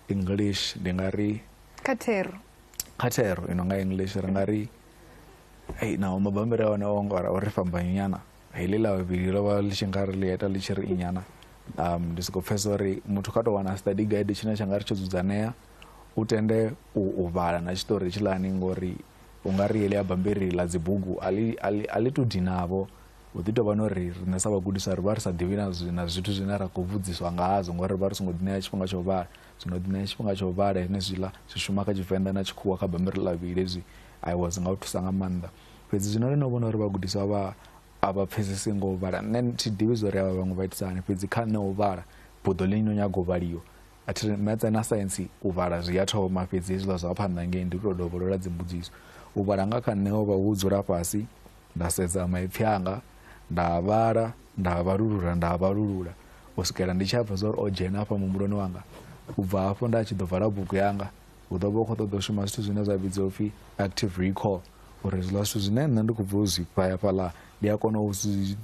english ndi nga ri kha thero kha thero i no nga english ri nga ri ei naho mabambiri a hone o ngora o ri fhambanyonyana heḽi ḽa vhavhili ḽo vha ḽi tshi nga ri ḽi ita ḽi tshi ri inyana um ndi sokou pfhesa uri muthu kha tou wana study guide tshine tsha nga ri tsho dzudzanea u tende u vhala na tshiṱori tshiḽani ngori u nga ri heḽi ya bambiri ḽa dzibugu a ḽi tou dinavho hu ḓi tovha no ri riṋe sa vhagudiswa ri vha ri sa ḓivhi na zwithu zwine ra khou vhudziswa ngazwo ngori ri vha ri songo ḓiṋea tshifhinga tsha u vhala zwino ḓiṋea tshifhinga tsha u vhala henezwiḽa zwi shuma kha tshivenḓa na tshikhuwa kha bammbiri ḽa vhili hezwi i was nga u thusa nga maanḓa fhedzi zwino ri no vhona uri vhagudiswa vha a vha pfhesesi ngo u vhala nṋe thi ḓivhi zwo ri avha vhaṅwe vha itisa hani fhedzi kha nṋe u vhala buḓo ḽi no nyaga u vhaliwa a thi ri metse na saintsi u vhala zwi a thoma fhedzi hezwiḽa zwa phanḓa ngei ndi u tou dovholola dzimbudziso u vhala nga kha nṋe o vha hu dzula fhasi nda sedza maipfhi anga nda vhala nda vhalulula nda vhalulula u swikela ndi tshi a pfha zwa uri o dzhena afha muhumbuloni wanga u bva hafho nda tshi ḓo vala bugu yanga hu ḓo vha u khou ṱoḓa u shuma zwithu zwine zwa vhidzwa upfhi active recall uri zwiḽa zwithu zwine nṋe ndi khou bva u zwi pfaya fhaḽa ndi a kona u zwi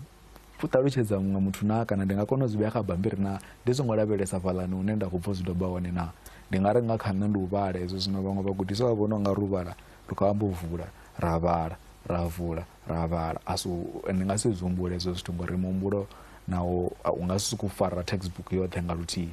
ṱalutshedza muṅwe muthu na kana ndi nga kona u zwi vhea kha bambiri na ndi songo lavhelesa fhaḽani hune nda khou bva u zwi doba hone na ndi nga ri nga kha nṋe ndi u vhala hezwo zwino vhaṅwe vhagudiswa vha vhona unga ri u vhala ri khou amba u vula ra vhala ra vula ra vhala a so ndi nga si zwi humbule hezwo zwithu ngori muhumbulo nawo u nga si sokou fara textbook yoṱhe nga luthihi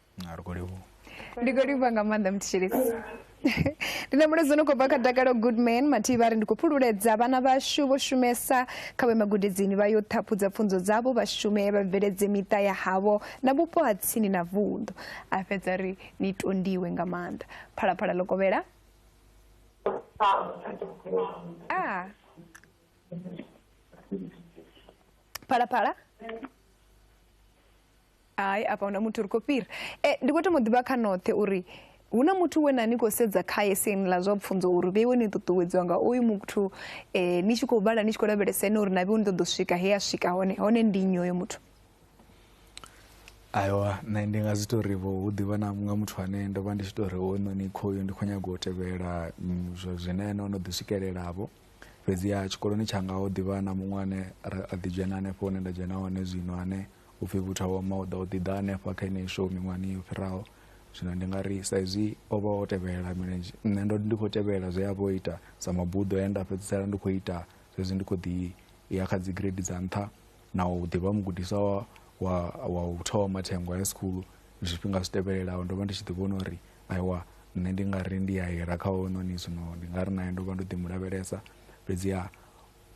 ngarwo livhu ndi khou livha nga maanḓa mutshilisi ndi na muladzo no khou bva kha dakalo goodman mathihi vha ri ndi khou phululedza vhana vhashu vho shumesa kha vhe magudedzini vha yo ṱhaphudza pfunzo dzavho vha shume vha bveledze miṱa ya havho na vhupo ha tsini na vunḓu a fhedza ri ni tondiwe nga maanḓa phalaphala ḽo kovhela ah. phalaphala hai afha huna muthu ri khou fhira e, ndi khou to mu ḓivha kha noṱhe uri hu na muthu we na ni khou sedza khaye siani ḽa zwa pfunzo uri vheiwe ni ṱuṱuwedziwa nga uyu muthu um ni tshi khou vhala ni tshi khou lavhelesa ene uri na vheiwe ni ṱoḓo swika he a swika hone hone ndi nnyi hoyo muthu aiwa nṋe ndi nga zwi to ri vho hu ḓivha na nga muthu ane ndo vha ndi tshi to ri hoyunoni khoyu ndi khou nyanga u tevhela mm, zwine ene o no ḓi swikelela vho fhedziha tshikoloni tshanga ho ḓivha na muṅwe ane a ḓi dzhena hanefho hune nda dzhena hone zwino ane u pfhi vhutha wa mauḓa o ḓi ḓa hanefha kha ine show miṅwahani yo fhiraho zwino ndi nga ri sa izwi o vha o tevhelela milenzhe nṋe ndo ndi khou tevhelela zwe a vha o ita sa mabuḓo he nda fhedzisela ndi khou ita zwezwi ndi khou ḓi ya kha dzi grade dza nṱha na u ḓi vha mugudiswa wa wa wa u thoma thengo ya school zwifhinga zwi tevhelelaho ndo vha ndi tshi ḓi vhona uri aiwa nṋe ndi nga ri ndi a hira kha hounoni zwino ndi nga ri naye ndo vha ndo ḓi mu lavhelesa fhedziha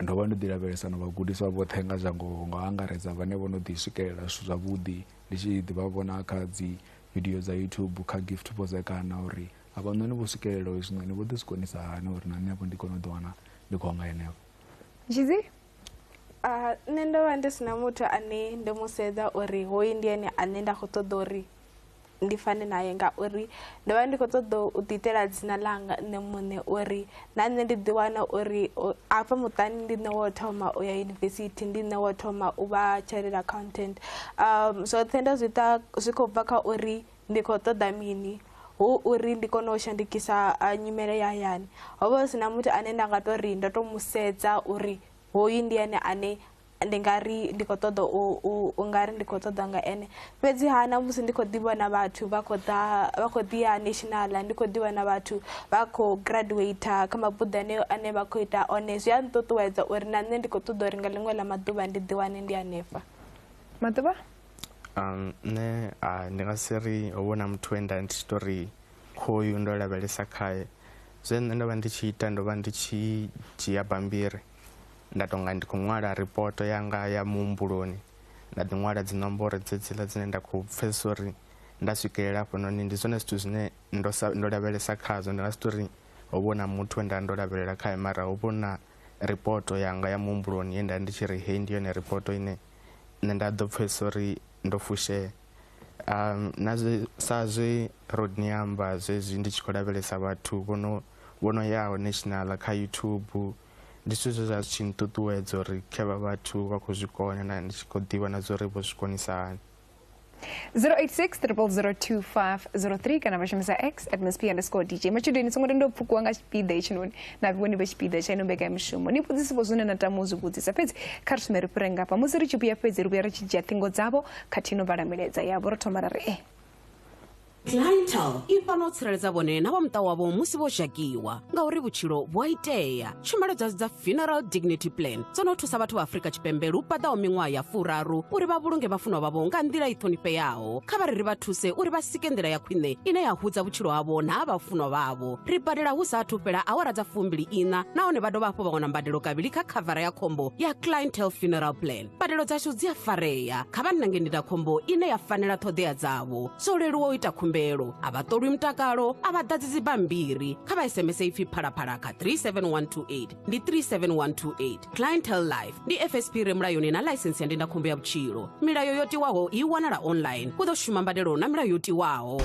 ndo vha ndo ḓi lavhelesa na vhagudiswa vhoṱhe nga zwa ngoho nga u angaredza vhane vho no ḓi swikelela zwithu zwavhuḓi ndi tshi ḓi vha vhona kha dzi video dza youtube kha gift vhozekana uri avhanoni vho swikelela hezwinoni vho ḓi zwi konisa hani uri na nṋe vho ndi kone u ḓi wana ndi khou nga henefho Zhidzi, Uh, nṋe ndo vha ndi sina muthu ane ndo mu sedza uri hoyu ndi ene ane nda khou ṱoḓa uri ndi fane naye ngauri ndo vha ndi khou ṱoḓa u ḓiitela dzina ḽanga nṋe muṋe uri na nṋe ndi ḓiwana uri afha muṱani ndi nṋe wo thoma u ya yunivesithi ndi nṋe wo thoma u vha chartered accountant um zwoṱhe ndo zwi ita zwi khou bva kha uri ndi khou ṱoḓa mini hu uri ndi kone u shandukisa nyimele ya hayani ho vha hu si na muthu ane nda nga to ri ndo to mu sedza uri hoyu ndi ene ane ndi nga ri ndi khou ṱoḓa u nga ri ndi khou ṱoḓa nga ene fhedzi ha na musi ndi khou ḓivha na vhathu vha khou ḓa vha khou ḓi ya national ndi khou ḓivha na vhathu vha khou graduate kha mabuḓo ane ane vha khou ita one zwi a nṱuṱuwedza uri na nṋe ndi khou ṱoḓa uri nga ḽiṅwe ḽa maḓuvha ndi ḓi wane ndi hanefha maḓuvha Um, nṋe a ndi nga si ri ho vhona muthu we nda ndi tshi to ri khoyu ndo lavhelesa khae zwe nṋe ndo vha ndi tshi ita ndo vha ndi tshi dzhia bambiri nda tonga ndi khou ṅwala ripoto yanga ya muhumbuloni nda ḓi ṅwala dzi nomboro dzedziḽa dzine nda khou pfesesa uri nda swikelela hafhanoni ndi zwone zwithu zwine ndo sa ndo lavhelesa khazwo ndi nga si tori ho vhona muthu we nda ndo lavhelela khae mara ho vhona ripoto yanga ya muhumbuloni ye nda ndi tshi ri hei ndi yone ripoto ine nṋe nda ḓo pfhesesa uri ndo fushea um na zwe sa zwe rodney amba zwezwi ndi tshi khou lavhelesa vhathu vho no vho no yaho national kha youtube ndi zwithu zwe zwa zwi tshi nṱuṱuwedza uri khe vha vhathu vha khou zwi kona na ndi tshi khou ḓivha na zwa uri vho zwi konisa hani 0860002503 kana vashumisa x at msp underscore dj matshudeni songo tenda u pfukiwa nga tshipiḓa hetshinoni na vhoni vha tshipiḓa tsha ino mbekanyamishumo ni vhudzisipo zwine na tama u zwi vhudzisa fhedzi kha ri sume ri fhire ngafha musi ri tshi vhuya fhedzi ri vhuya ri tshi dzhia ṱhingo dzavho khathihi no vhala milaedza yavho ro thoma ra ri e eh. clientele i fana u tsireledza vhone na vha muṱa wavho musi vho zhakiwa ngauri vhutshilo vhu a itea tshumelo dzashu dza funeral dignity plan dzo no thusa vhathu vha afrika tshipembe lu paḓaho miṅwaha ya furaru uri vha vhulunge vhafunwa vhavho nga nḓila i ṱhonifheaho kha vha ri ri vha thuse uri vha sike nḓila ya khwine ine ya hudza vhutshilo havho na ha vhafunwa vhavho ri badela hu sa athu fhela awara dza fumbili ina nahone vha dovha hafhu vha wana mbadelo kavhili kha khavara ya khombo ya clientele funeral plan mbadelo dzashu dzi a farea kha vha nange ndindakhombo ine ya fanela ṱhoḓea dzavho zwo leluwa u ita khumbelo a vha ṱolwi mutakalo a vha ḓadzi dzibammbiri kha vha sms ipfi phalaphala kha 37128 ndi 37128 clientel life ndi fsp re mulayoni na ḽaisensi ya ndindakhombo ya vhutshilo milayo yo tiwaho i wanala online u ḓo shuma mbadelo na milayo yo tiwaho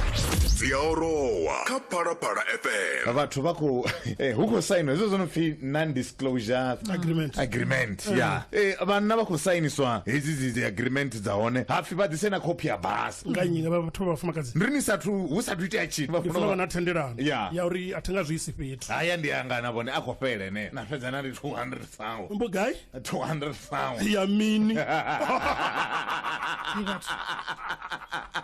dzi a orowa kha phalaphala fm vhathu vha khou eh, hu khou sainwa hezwo zwo no pfi non closure Agreement. agreement ya Eh, vhanna vha khou sainiswa hedzi dzi- dzi agreement dza hone hapfi vha ḓise na khophi ya basa nga nnyi nga vha- vhathu vha vhafumakadzi ndi ni sathu hu sathu itea tshithu vha ndi funa funa vha na vha- thendelano Ya. ya uri a thi nga zwi isi fhethu haya ndi anga na vhone a khou fhele ne na fhedza na ndi 200 sawo mbo gai 200 sawo ya mini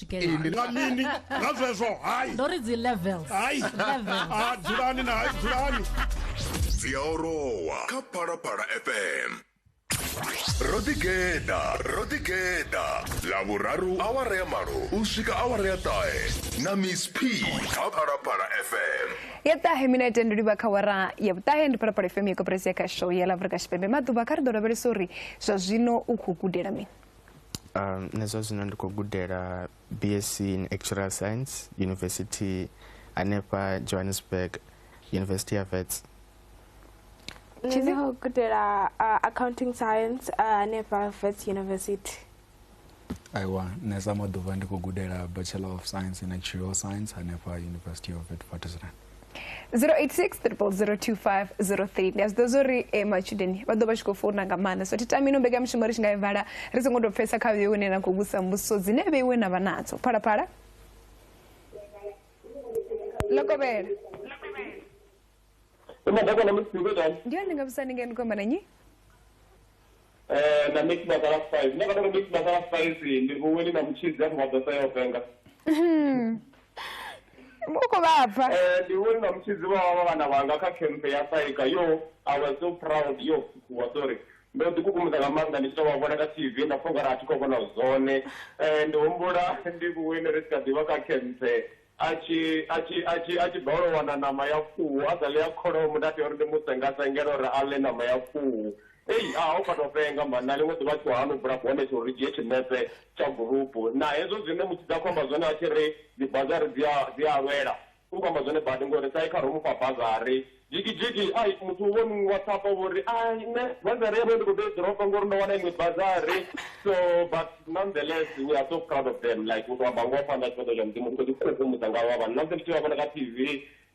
together Ee, ndi nga mini nga zwezwo hayi ndo ri dzi levels hayi Levels. Ah, dzulani na hayi dzulani dzi a orowa kha phalaphala fm ro ḓigeḓa ro ḓigeḓa ḽavhuraru awara ya malo u swika awara ya ṱahe na miss p kha phalaphala fm ya ṱahe minete ndi livha kha wara ya vhuṱahe ndi phalaphala fm ya koperesi ya kha show ya la afrika tshipembe maḓuvha kha ri ḓo lavhelesa uri zwa zwino u khou gudela mini nṋe zwa zwino ndi khou gudela bsc in actuarial science university hanefha johannesburg university ya vets nṋe ndi khou gudela accounting science hanefha vets university aiwa nṋe sa maḓuvha ndi khou gudela bachelor of science in actuarial science hanefha university of witwatersrand 0860002503 ndi a zwi ḓo zwo ri eh, matshudeni vha ḓo vha tshi khou founa nga maanḓa so thi tami ino mbekanyamushumo ri tshi nga i vala ri songo tou pfesa kha vheiwe ine na khou vhusa mbudziso dzine vheiwe na vha nadzo phalaphala lokovhela ndi hone ndi nga vhusa ni ngeno khomba na nyi eh, na mix masala spice nda kata uri mix masala spice ndi vhuweli na mutshidzi afho vha ḓo sa yo venga u khou vhabva Eh, ndi vhuweli na mutshidzi vha vha vhana vhanga kha camp ya saika yo i was so proud yo wa sorry ndo ḓi kukumusa nga maanḓa ndi tshi tou vha vhona kha tv nda pfha ungari a thi khou vhona zwone Eh, ndi humbula ndi vhuweli ri tshi kha ḓivha kha camp A tshi, a tshi, a tshi, a tshi balelwa u wana ṋama ya khuhu, a sa ḽe ya kholomo, nda tea uri ndi mu senga-sengele uri a ḽe ṋama ya khuhu. Ei, ha, ho fhaṱwa fhenga mani! Na ḽiṅwe ḓuvha a tshi khou hana u bula bonethe uri ri dzhie tshinepe tsha gurupu. Na hezwo zwine Mutshidzi a khou amba zwone a tshi ri, Dzibazari dzi a, dzi a lwela, u khou amba zwone badi, ngori Saikha ro mu fha bazari. Jigijigi, Ai, muthu wo nngwasapa vho ri, Ai, nṋe bazari yavho ndi khou ḓo i dropa ngori ndo wana iṅwe bazari. So, but nonetheless, we are so proud of them, like u tou amba ngoho phanḓa ha tshifhaṱuwo tsha Mudzimu u tshi khou ḓikhukhumudza nga havha vhana. Ṋamusi ndi tshi vha vhona kha TV,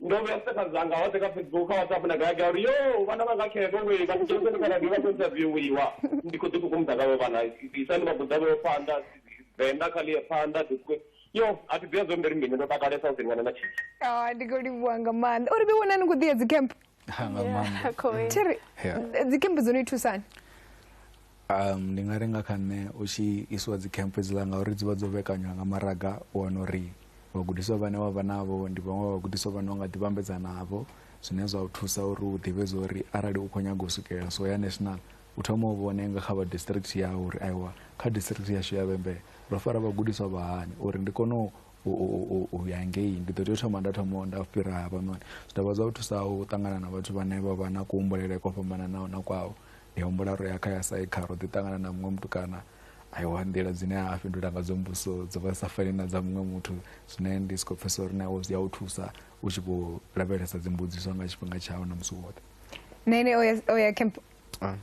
ndo vhea status dzanga hoṱhe kha Facebook, kha WhatsApp na gai gai uri, Yoo, vhana vhanga khevhe wee, vha dzheniseni kha radio vha khou interviewiwa. Ndi khou ḓikhukhumudza nga havha vhana, isani vhagudavho phanḓa, Venḓa kha ḽi ye phanḓa. yo a thi ḓivha zwo mberi mbini ndo takalesa u ḓiwana na tshitshi ah, ndi khou livhuwa nga maanḓa uri ḓi wonani khou ḓiya dzicamp thiri dzicamp dzo no i thusani um ndi nga ri nga kha nṋe u tshi isiwa dzicamp edziḽa ngauri dzi vha dzo vhekanywa nga maraga u wana uri vhagudiswa vhane wa vha navho ndi vhaṅwe vhagudiswa vhane u nga ḓi vhambedza navho zwine zwa u thusa uri u ḓivhe zwa uri arali u khou nyaga u swikelela so ya national u thoma u vhone nga kha vha district yau uri aiwa kha district yashu ya vhembe ro fara vhagudiswa vha hani uri ndi kone u ya ngei ndi ḓo tea u thoma nda thoma nda fhira havhanoni zwi dovha zwa u thusa u ṱangana na vhathu vhane vha vha na kuhumbulele kwa fhambananaho na kwao ndi humbula ro ya kha ya saikha ro ḓi ṱangana na muṅwe mutukana aiwa nḓila dzine a fhindula nga dzo mbuso dzo vha sa fani na dza muṅwe muthu zwine ndi si khou pfesa uri na wo zwi ya u thusa u tshi khou lavhelesa dzimbudziso nga tshifhinga tshau na musi woṱhe nṋe ene o ya camp Ah.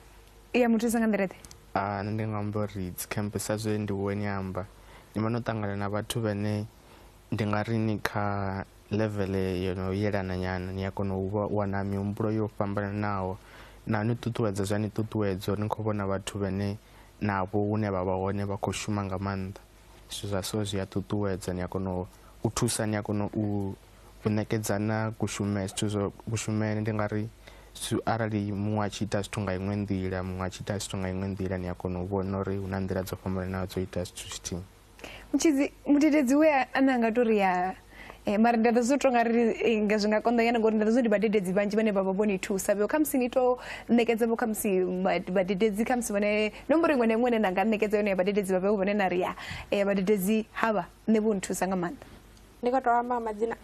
ya muthusa nga nḓila ḓe Ah, nṋe ndi nga amba uri dzi camp sa zwe ndi wo ni amba ni vha no ṱangana na vhathu vhane ndi nga ri ni kha level yo no yelana nyana ni a kona u vha- wana mihumbulo yo fhambananaho na ni ṱuṱuwedza zwa ni ṱuṱuwedzo ni khou vhona vhathu vhane navho hune vha vha hone vha khou shuma nga maanḓa zwithu zwa so zwi a ṱuṱuwedza ni a kona u thusa ni a kona u u ṋekedzana kushumele zwithu zwo kushumele ndi nga ri arali muṅwe a tshi ita zwithu nga iṅwe nḓila muṅwe a tshi ita zwithu nga iṅwe nḓila ni a kona u vhona uri hu na nḓila dzo fhambananaho dzo ita zwithu zwithihi mutshidzi mudededzi we a ne a nga tori ya Eh, mara ndi a ḓo zwi tonga ri eh, nga zwi nga konḓa nyana ngori ndi a ḓo zwi ndi vhadededzi vhanzhi vhane vha vha vho ni thusa vho khamusi ni to ṋekedza vho khamusi vha- vhadededzi khamusi vhone nomboro iṅwe na iṅwe ine na nga ṋekedza yone ya vhadededzi vha vheo vhone na ri ya eh, vhadededzi havha nṋe vho nthusa nga maanḓa ndi khou tou amba nga madzina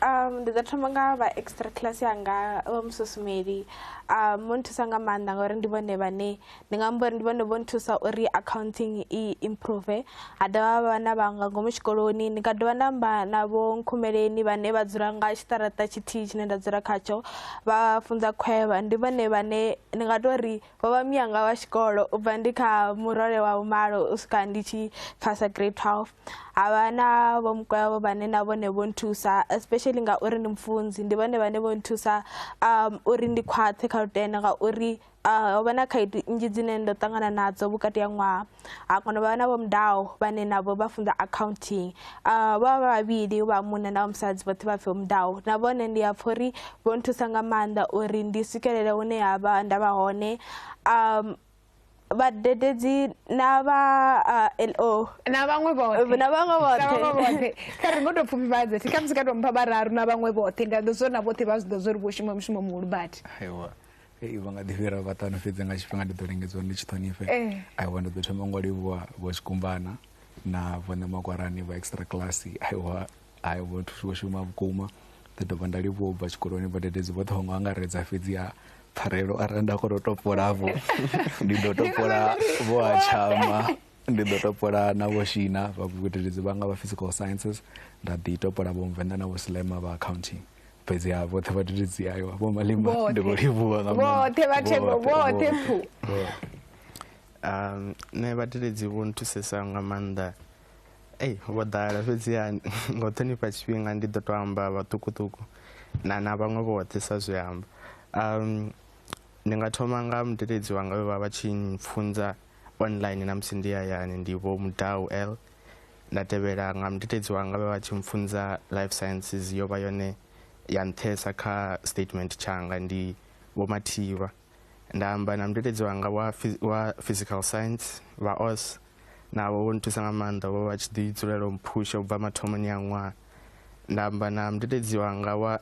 um, ndi ḓo thoma nga vha extra class yanga vha mususumeli um, vho nthusa nga maanḓa ngauri ndi vhone vhane ndi nga amba uri ndi vhone vho nthusa uri accounting i improve ha dovha vha na vhanga ngomu tshikoloni ndi nga dovha nda amba na vho nkhumeleni vhane vha dzula nga tshiṱaraṱa tshithihi tshine nda dzula khatsho vha funza khwevha ndi vhone vhane ndi nga tou ri vho vha miyanga wa tshikolo u bva ndi kha murole wa vhumalo u swika ndi tshi phasa grade twelve ha vha na vho mukwevho vhane na vhone vho nthusa especially ngauri ndi mufunzi ndi vhone vhane vho nthusa um uri ndi khwaṱhe kha lutendo ngauri ho vha na khaedu nnzhi dzine ndo ṱangana nadzo vhukati ha ṅwaha ha kono vha na vho mudaho vhane navho vha funza accounting vha vha vhavhili vha munna na musadzi vhoṱhe vha pfhi mudaho na vhone ndi a pfha uri vho nthusa nga maanḓa uri ndi swikelele hune ha vha nda vha hone um vhadededzi na vha lo na vhaṅwe vhoṱhe na vhaṅwe vhoṱhe kha ri ngo tou pfufhifhadze thi khamusi ka tou mpha vhararu na vhaṅwe vhoṱhe nda ḓo zwo na vhoṱhe vha zwi ḓo zwo ri vho shuma mushumo muhulu badi Hey, vha nga ḓi fhira vhaṱanu fhedzi nga tshifhinga ndi ḓo lingedzwa ndi tshi ṱhonifhe Eh. aiwa ndi ḓo thoma ngo livhuwa vho tshikumbana na vhone makwarani vha extra class aiwa ai vho thusi vho shuma vhukuma ḓi dovha nda livhuwa u bva tshikoloni vhadededzi vhoṱhe vho ngo angaredza fhedzi ha pfarelo arali nda kona u topolavho ndi ḓo topola vho a tshama ndi ḓo topola na vho shina vha vhugudedzi vhanga vha physical sciences nda ḓi topola vho mvenḓa na vho slema vha accounting fhedzi ha vhoṱhe vhadededzi ayo vho malima ndi vho livhuwa nga vhoṱhe vhathembo vhoṱhe pfu um nṋe vhadededzi vho nthusesa nga maanḓa ei vho ḓala fhedziha nga u ṱhonifha tshifhinga ndi ḓo tou amba vhaṱukuṱuku na na vhaṅwe vhoṱhe sa zwi amba um ndi nga thoma nga mudededzi wanga vhe vha vha tshi pfunza um online na musi ndi hayani ndi vho mudau l nda tevhela nga mudededzi wanga vha vha tshi mpfunza life sciences yo vha yone ya nṱhesa kha statement tshanga ndi vho mathivha nda amba na mudededzi wanga wa, phys- wa physical science vha os navho vho nthusa nga maanḓa vho vha tshi ḓi dzulela u mphusha u bva mathomoni a ṅwaha nda amba na mudededzi wanga wa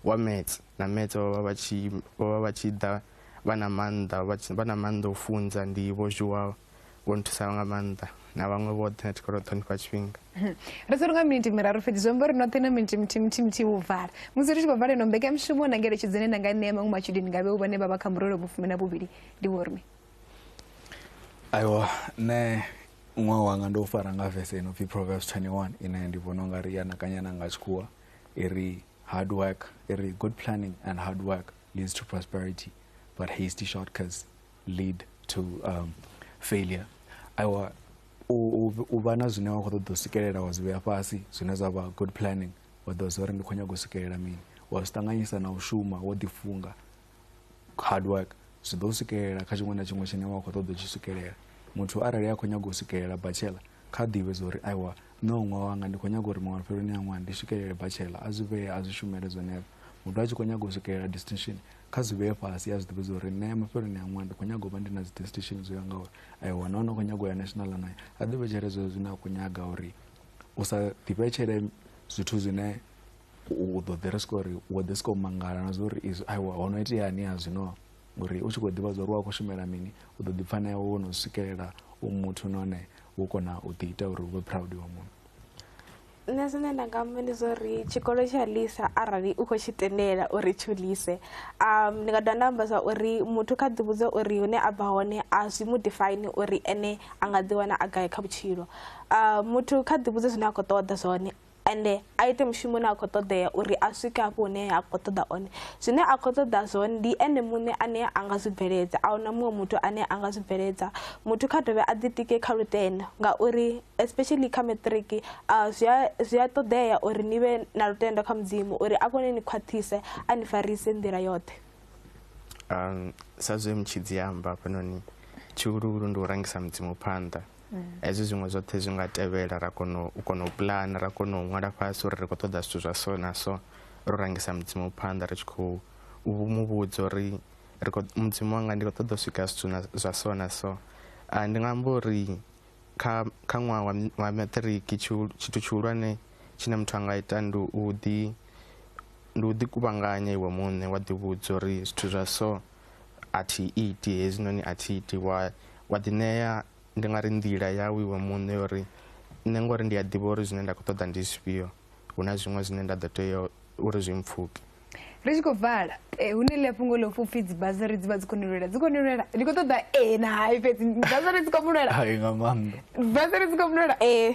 wa Metse na Metse vho vha vha tshi vho vha vha tshi ḓa vha na maanḓa vha tshi vha na maanḓa o funza ndi vho Zhuwa vho nthusaho nga maanḓa na vhaṅwe vhoṱhe na tshikolo ṱhonifha tshifhinga hmm. ri sa lunga miniti miraru fhedzi zwi amba uri noṱhe na miniti mithihi mithihi mithihi vhu vala musi ri tshi khou vala ino mbekamishumo na ngeletshedzo ine na nga ṋea maṅwe matshudeni nga vhe u vhane vha vha kha murole vhufumi na vhuvhili ndi vhormi aiwa nṋe ṅwaha wanga ndo fara nga vese ino pfhi proverbs 21 ine ndi vhona u nga ri ya nakanyana nga tshikhuwa e re hard work e re good planning and hard work leads to prosperity but hasty shortcuts lead to um, failure aiwa u vha na zwine wa khou ṱoḓa u swikelela wa zwi vhea fhasi zwine zwa vha good planning wa ḓo zwa uri ndi khou nyaga u swikelela mini wa zwi ṱanganyisa na u shuma wo ḓifunga hard work zwi ḓo swikelela kha tshiṅwe na tshiṅwe tshine wa khou ṱoḓa u tshi swikelela muthu arali a khou nyaga u swikelela bachelor kha ḓivhe zwa uri aiwa nṋe u ṅwaha wanga ndi khou nyaga uri maṅwe fheloni ya ṅwaha ndi swikelele bachelor a zwi vhee a zwi shumele zwenezwo muthu a tshi khou nyaga u swikelela distinction kha zwi vhee fhasi a zwi ḓivhe zwa uri nṋe mafheloni a ṅwaha ndi khou nyaga u vha ndi na dzi distinction zwo ya nga uri aiwa na hone u khou nyaga u ya national anayo a ḓivhetshele zwezwo zwine a khou nyaga uri u sa ḓivhetshele zwithu zwine u ḓo ḓi ri swika uri wo ḓi swika u mangala na zwa uri izwi aiwa ho no iteani ha zwino ngori u tshi khou ḓivha zwa uri wa khou shumela mini u ḓo ḓi pfa na iwe wo no swikelela u muthu nahone wo kona u ḓi ita uri u vhe proud wa munhu nṋe zwine nda nga amba ndi zwa uri tshikolo tsha lisa arali u khou tshi tendela uri tsho lise um ndi nga dovha nda amba zwa uri muthu kha ḓi vhudza uri hune a bva hone a zwi mu define uri ene a nga ḓi wana a gai kha vhutshilo um muthu kha ḓi vhudze zwine a khou ṱoḓa zwone ende a ite mushumo une a khou ṱoḓea uri a swike hafho hune a khou ṱoḓa one zwine a khou ṱoḓa zwone ndi ene muṋe ane a nga zwi bveledza a huna muṅwe muthu ane a nga zwi bveledza muthu kha dovhe a ḓitike kha lutendo ngauri especially kha matric zwi a ṱoḓea uri ni vhe na lutendo kha mudzimu uri a kone ni khwaṱhise a ni farise nḓila yoṱhe um sa zwe mutshidzi amba hafhanoni tshihuluhulu ndi u rangisa mudzimu phanḓa mm. hezwi zwiṅwe zwoṱhe zwi nga tevhela ra kona u kona u pulana ra kona u ṅwala fhasi uri ri khou ṱoḓa zwithu zwa so na so ro rangisa mudzimu phanḓa ri tshi khou mu vhudza uri mudzimu wanga ndi khou ṱoḓa u swika zwithu zwa so na so ah, ndi nga amba uri kha kha ṅwaha wa maṱiriki tshithu tshihulwane tshine muthu a nga ita ndi u ḓi ndi u ḓi kuvhanganya iwe muṋe wa ḓivhudza uri zwithu zwa so a thi iti hezwinoni a thi iti wa wa ḓi ṋea ndi nga ri nḓila yau iwe muṋe ya uri nṋe ngori ndi a ḓivha uri zwine nda khou ṱoḓa ndi zwifhio hu na zwiṅwe zwine nda ḓo tea uri zwi mpfhuke ri tshi khou vala eh, hune ḽi a fhungo ḽo pfhi upfhi dzibasari dzi vha dzi khou ni lwela dzi khou ni lwela ndi khou ṱoḓa ee na hai fhedzi basari dzi khou mu lwela nga maanḓa basari dzi khou mu lwela ee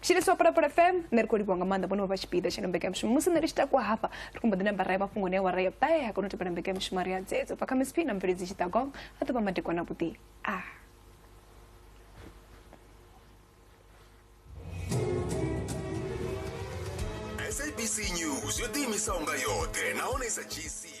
chiri so pano pa fm nṋe ri khou livhiwa nga maanḓa vhone vha vha tshipiḓa tsha mbekanyamushumo musi nṋe ri tshi takuwa hafha ri khou mbo ḓi namba rae mafhungo ne wa rae bae ha kona u tevhela mbekanyamushumo ri ya dzedzo bva kha misp na mveledzi tshiṱagong a ḓo vha madekwana vhuḓi a ah. sabc news yo ḓiimisaho nga yoṱhe nahone sa gc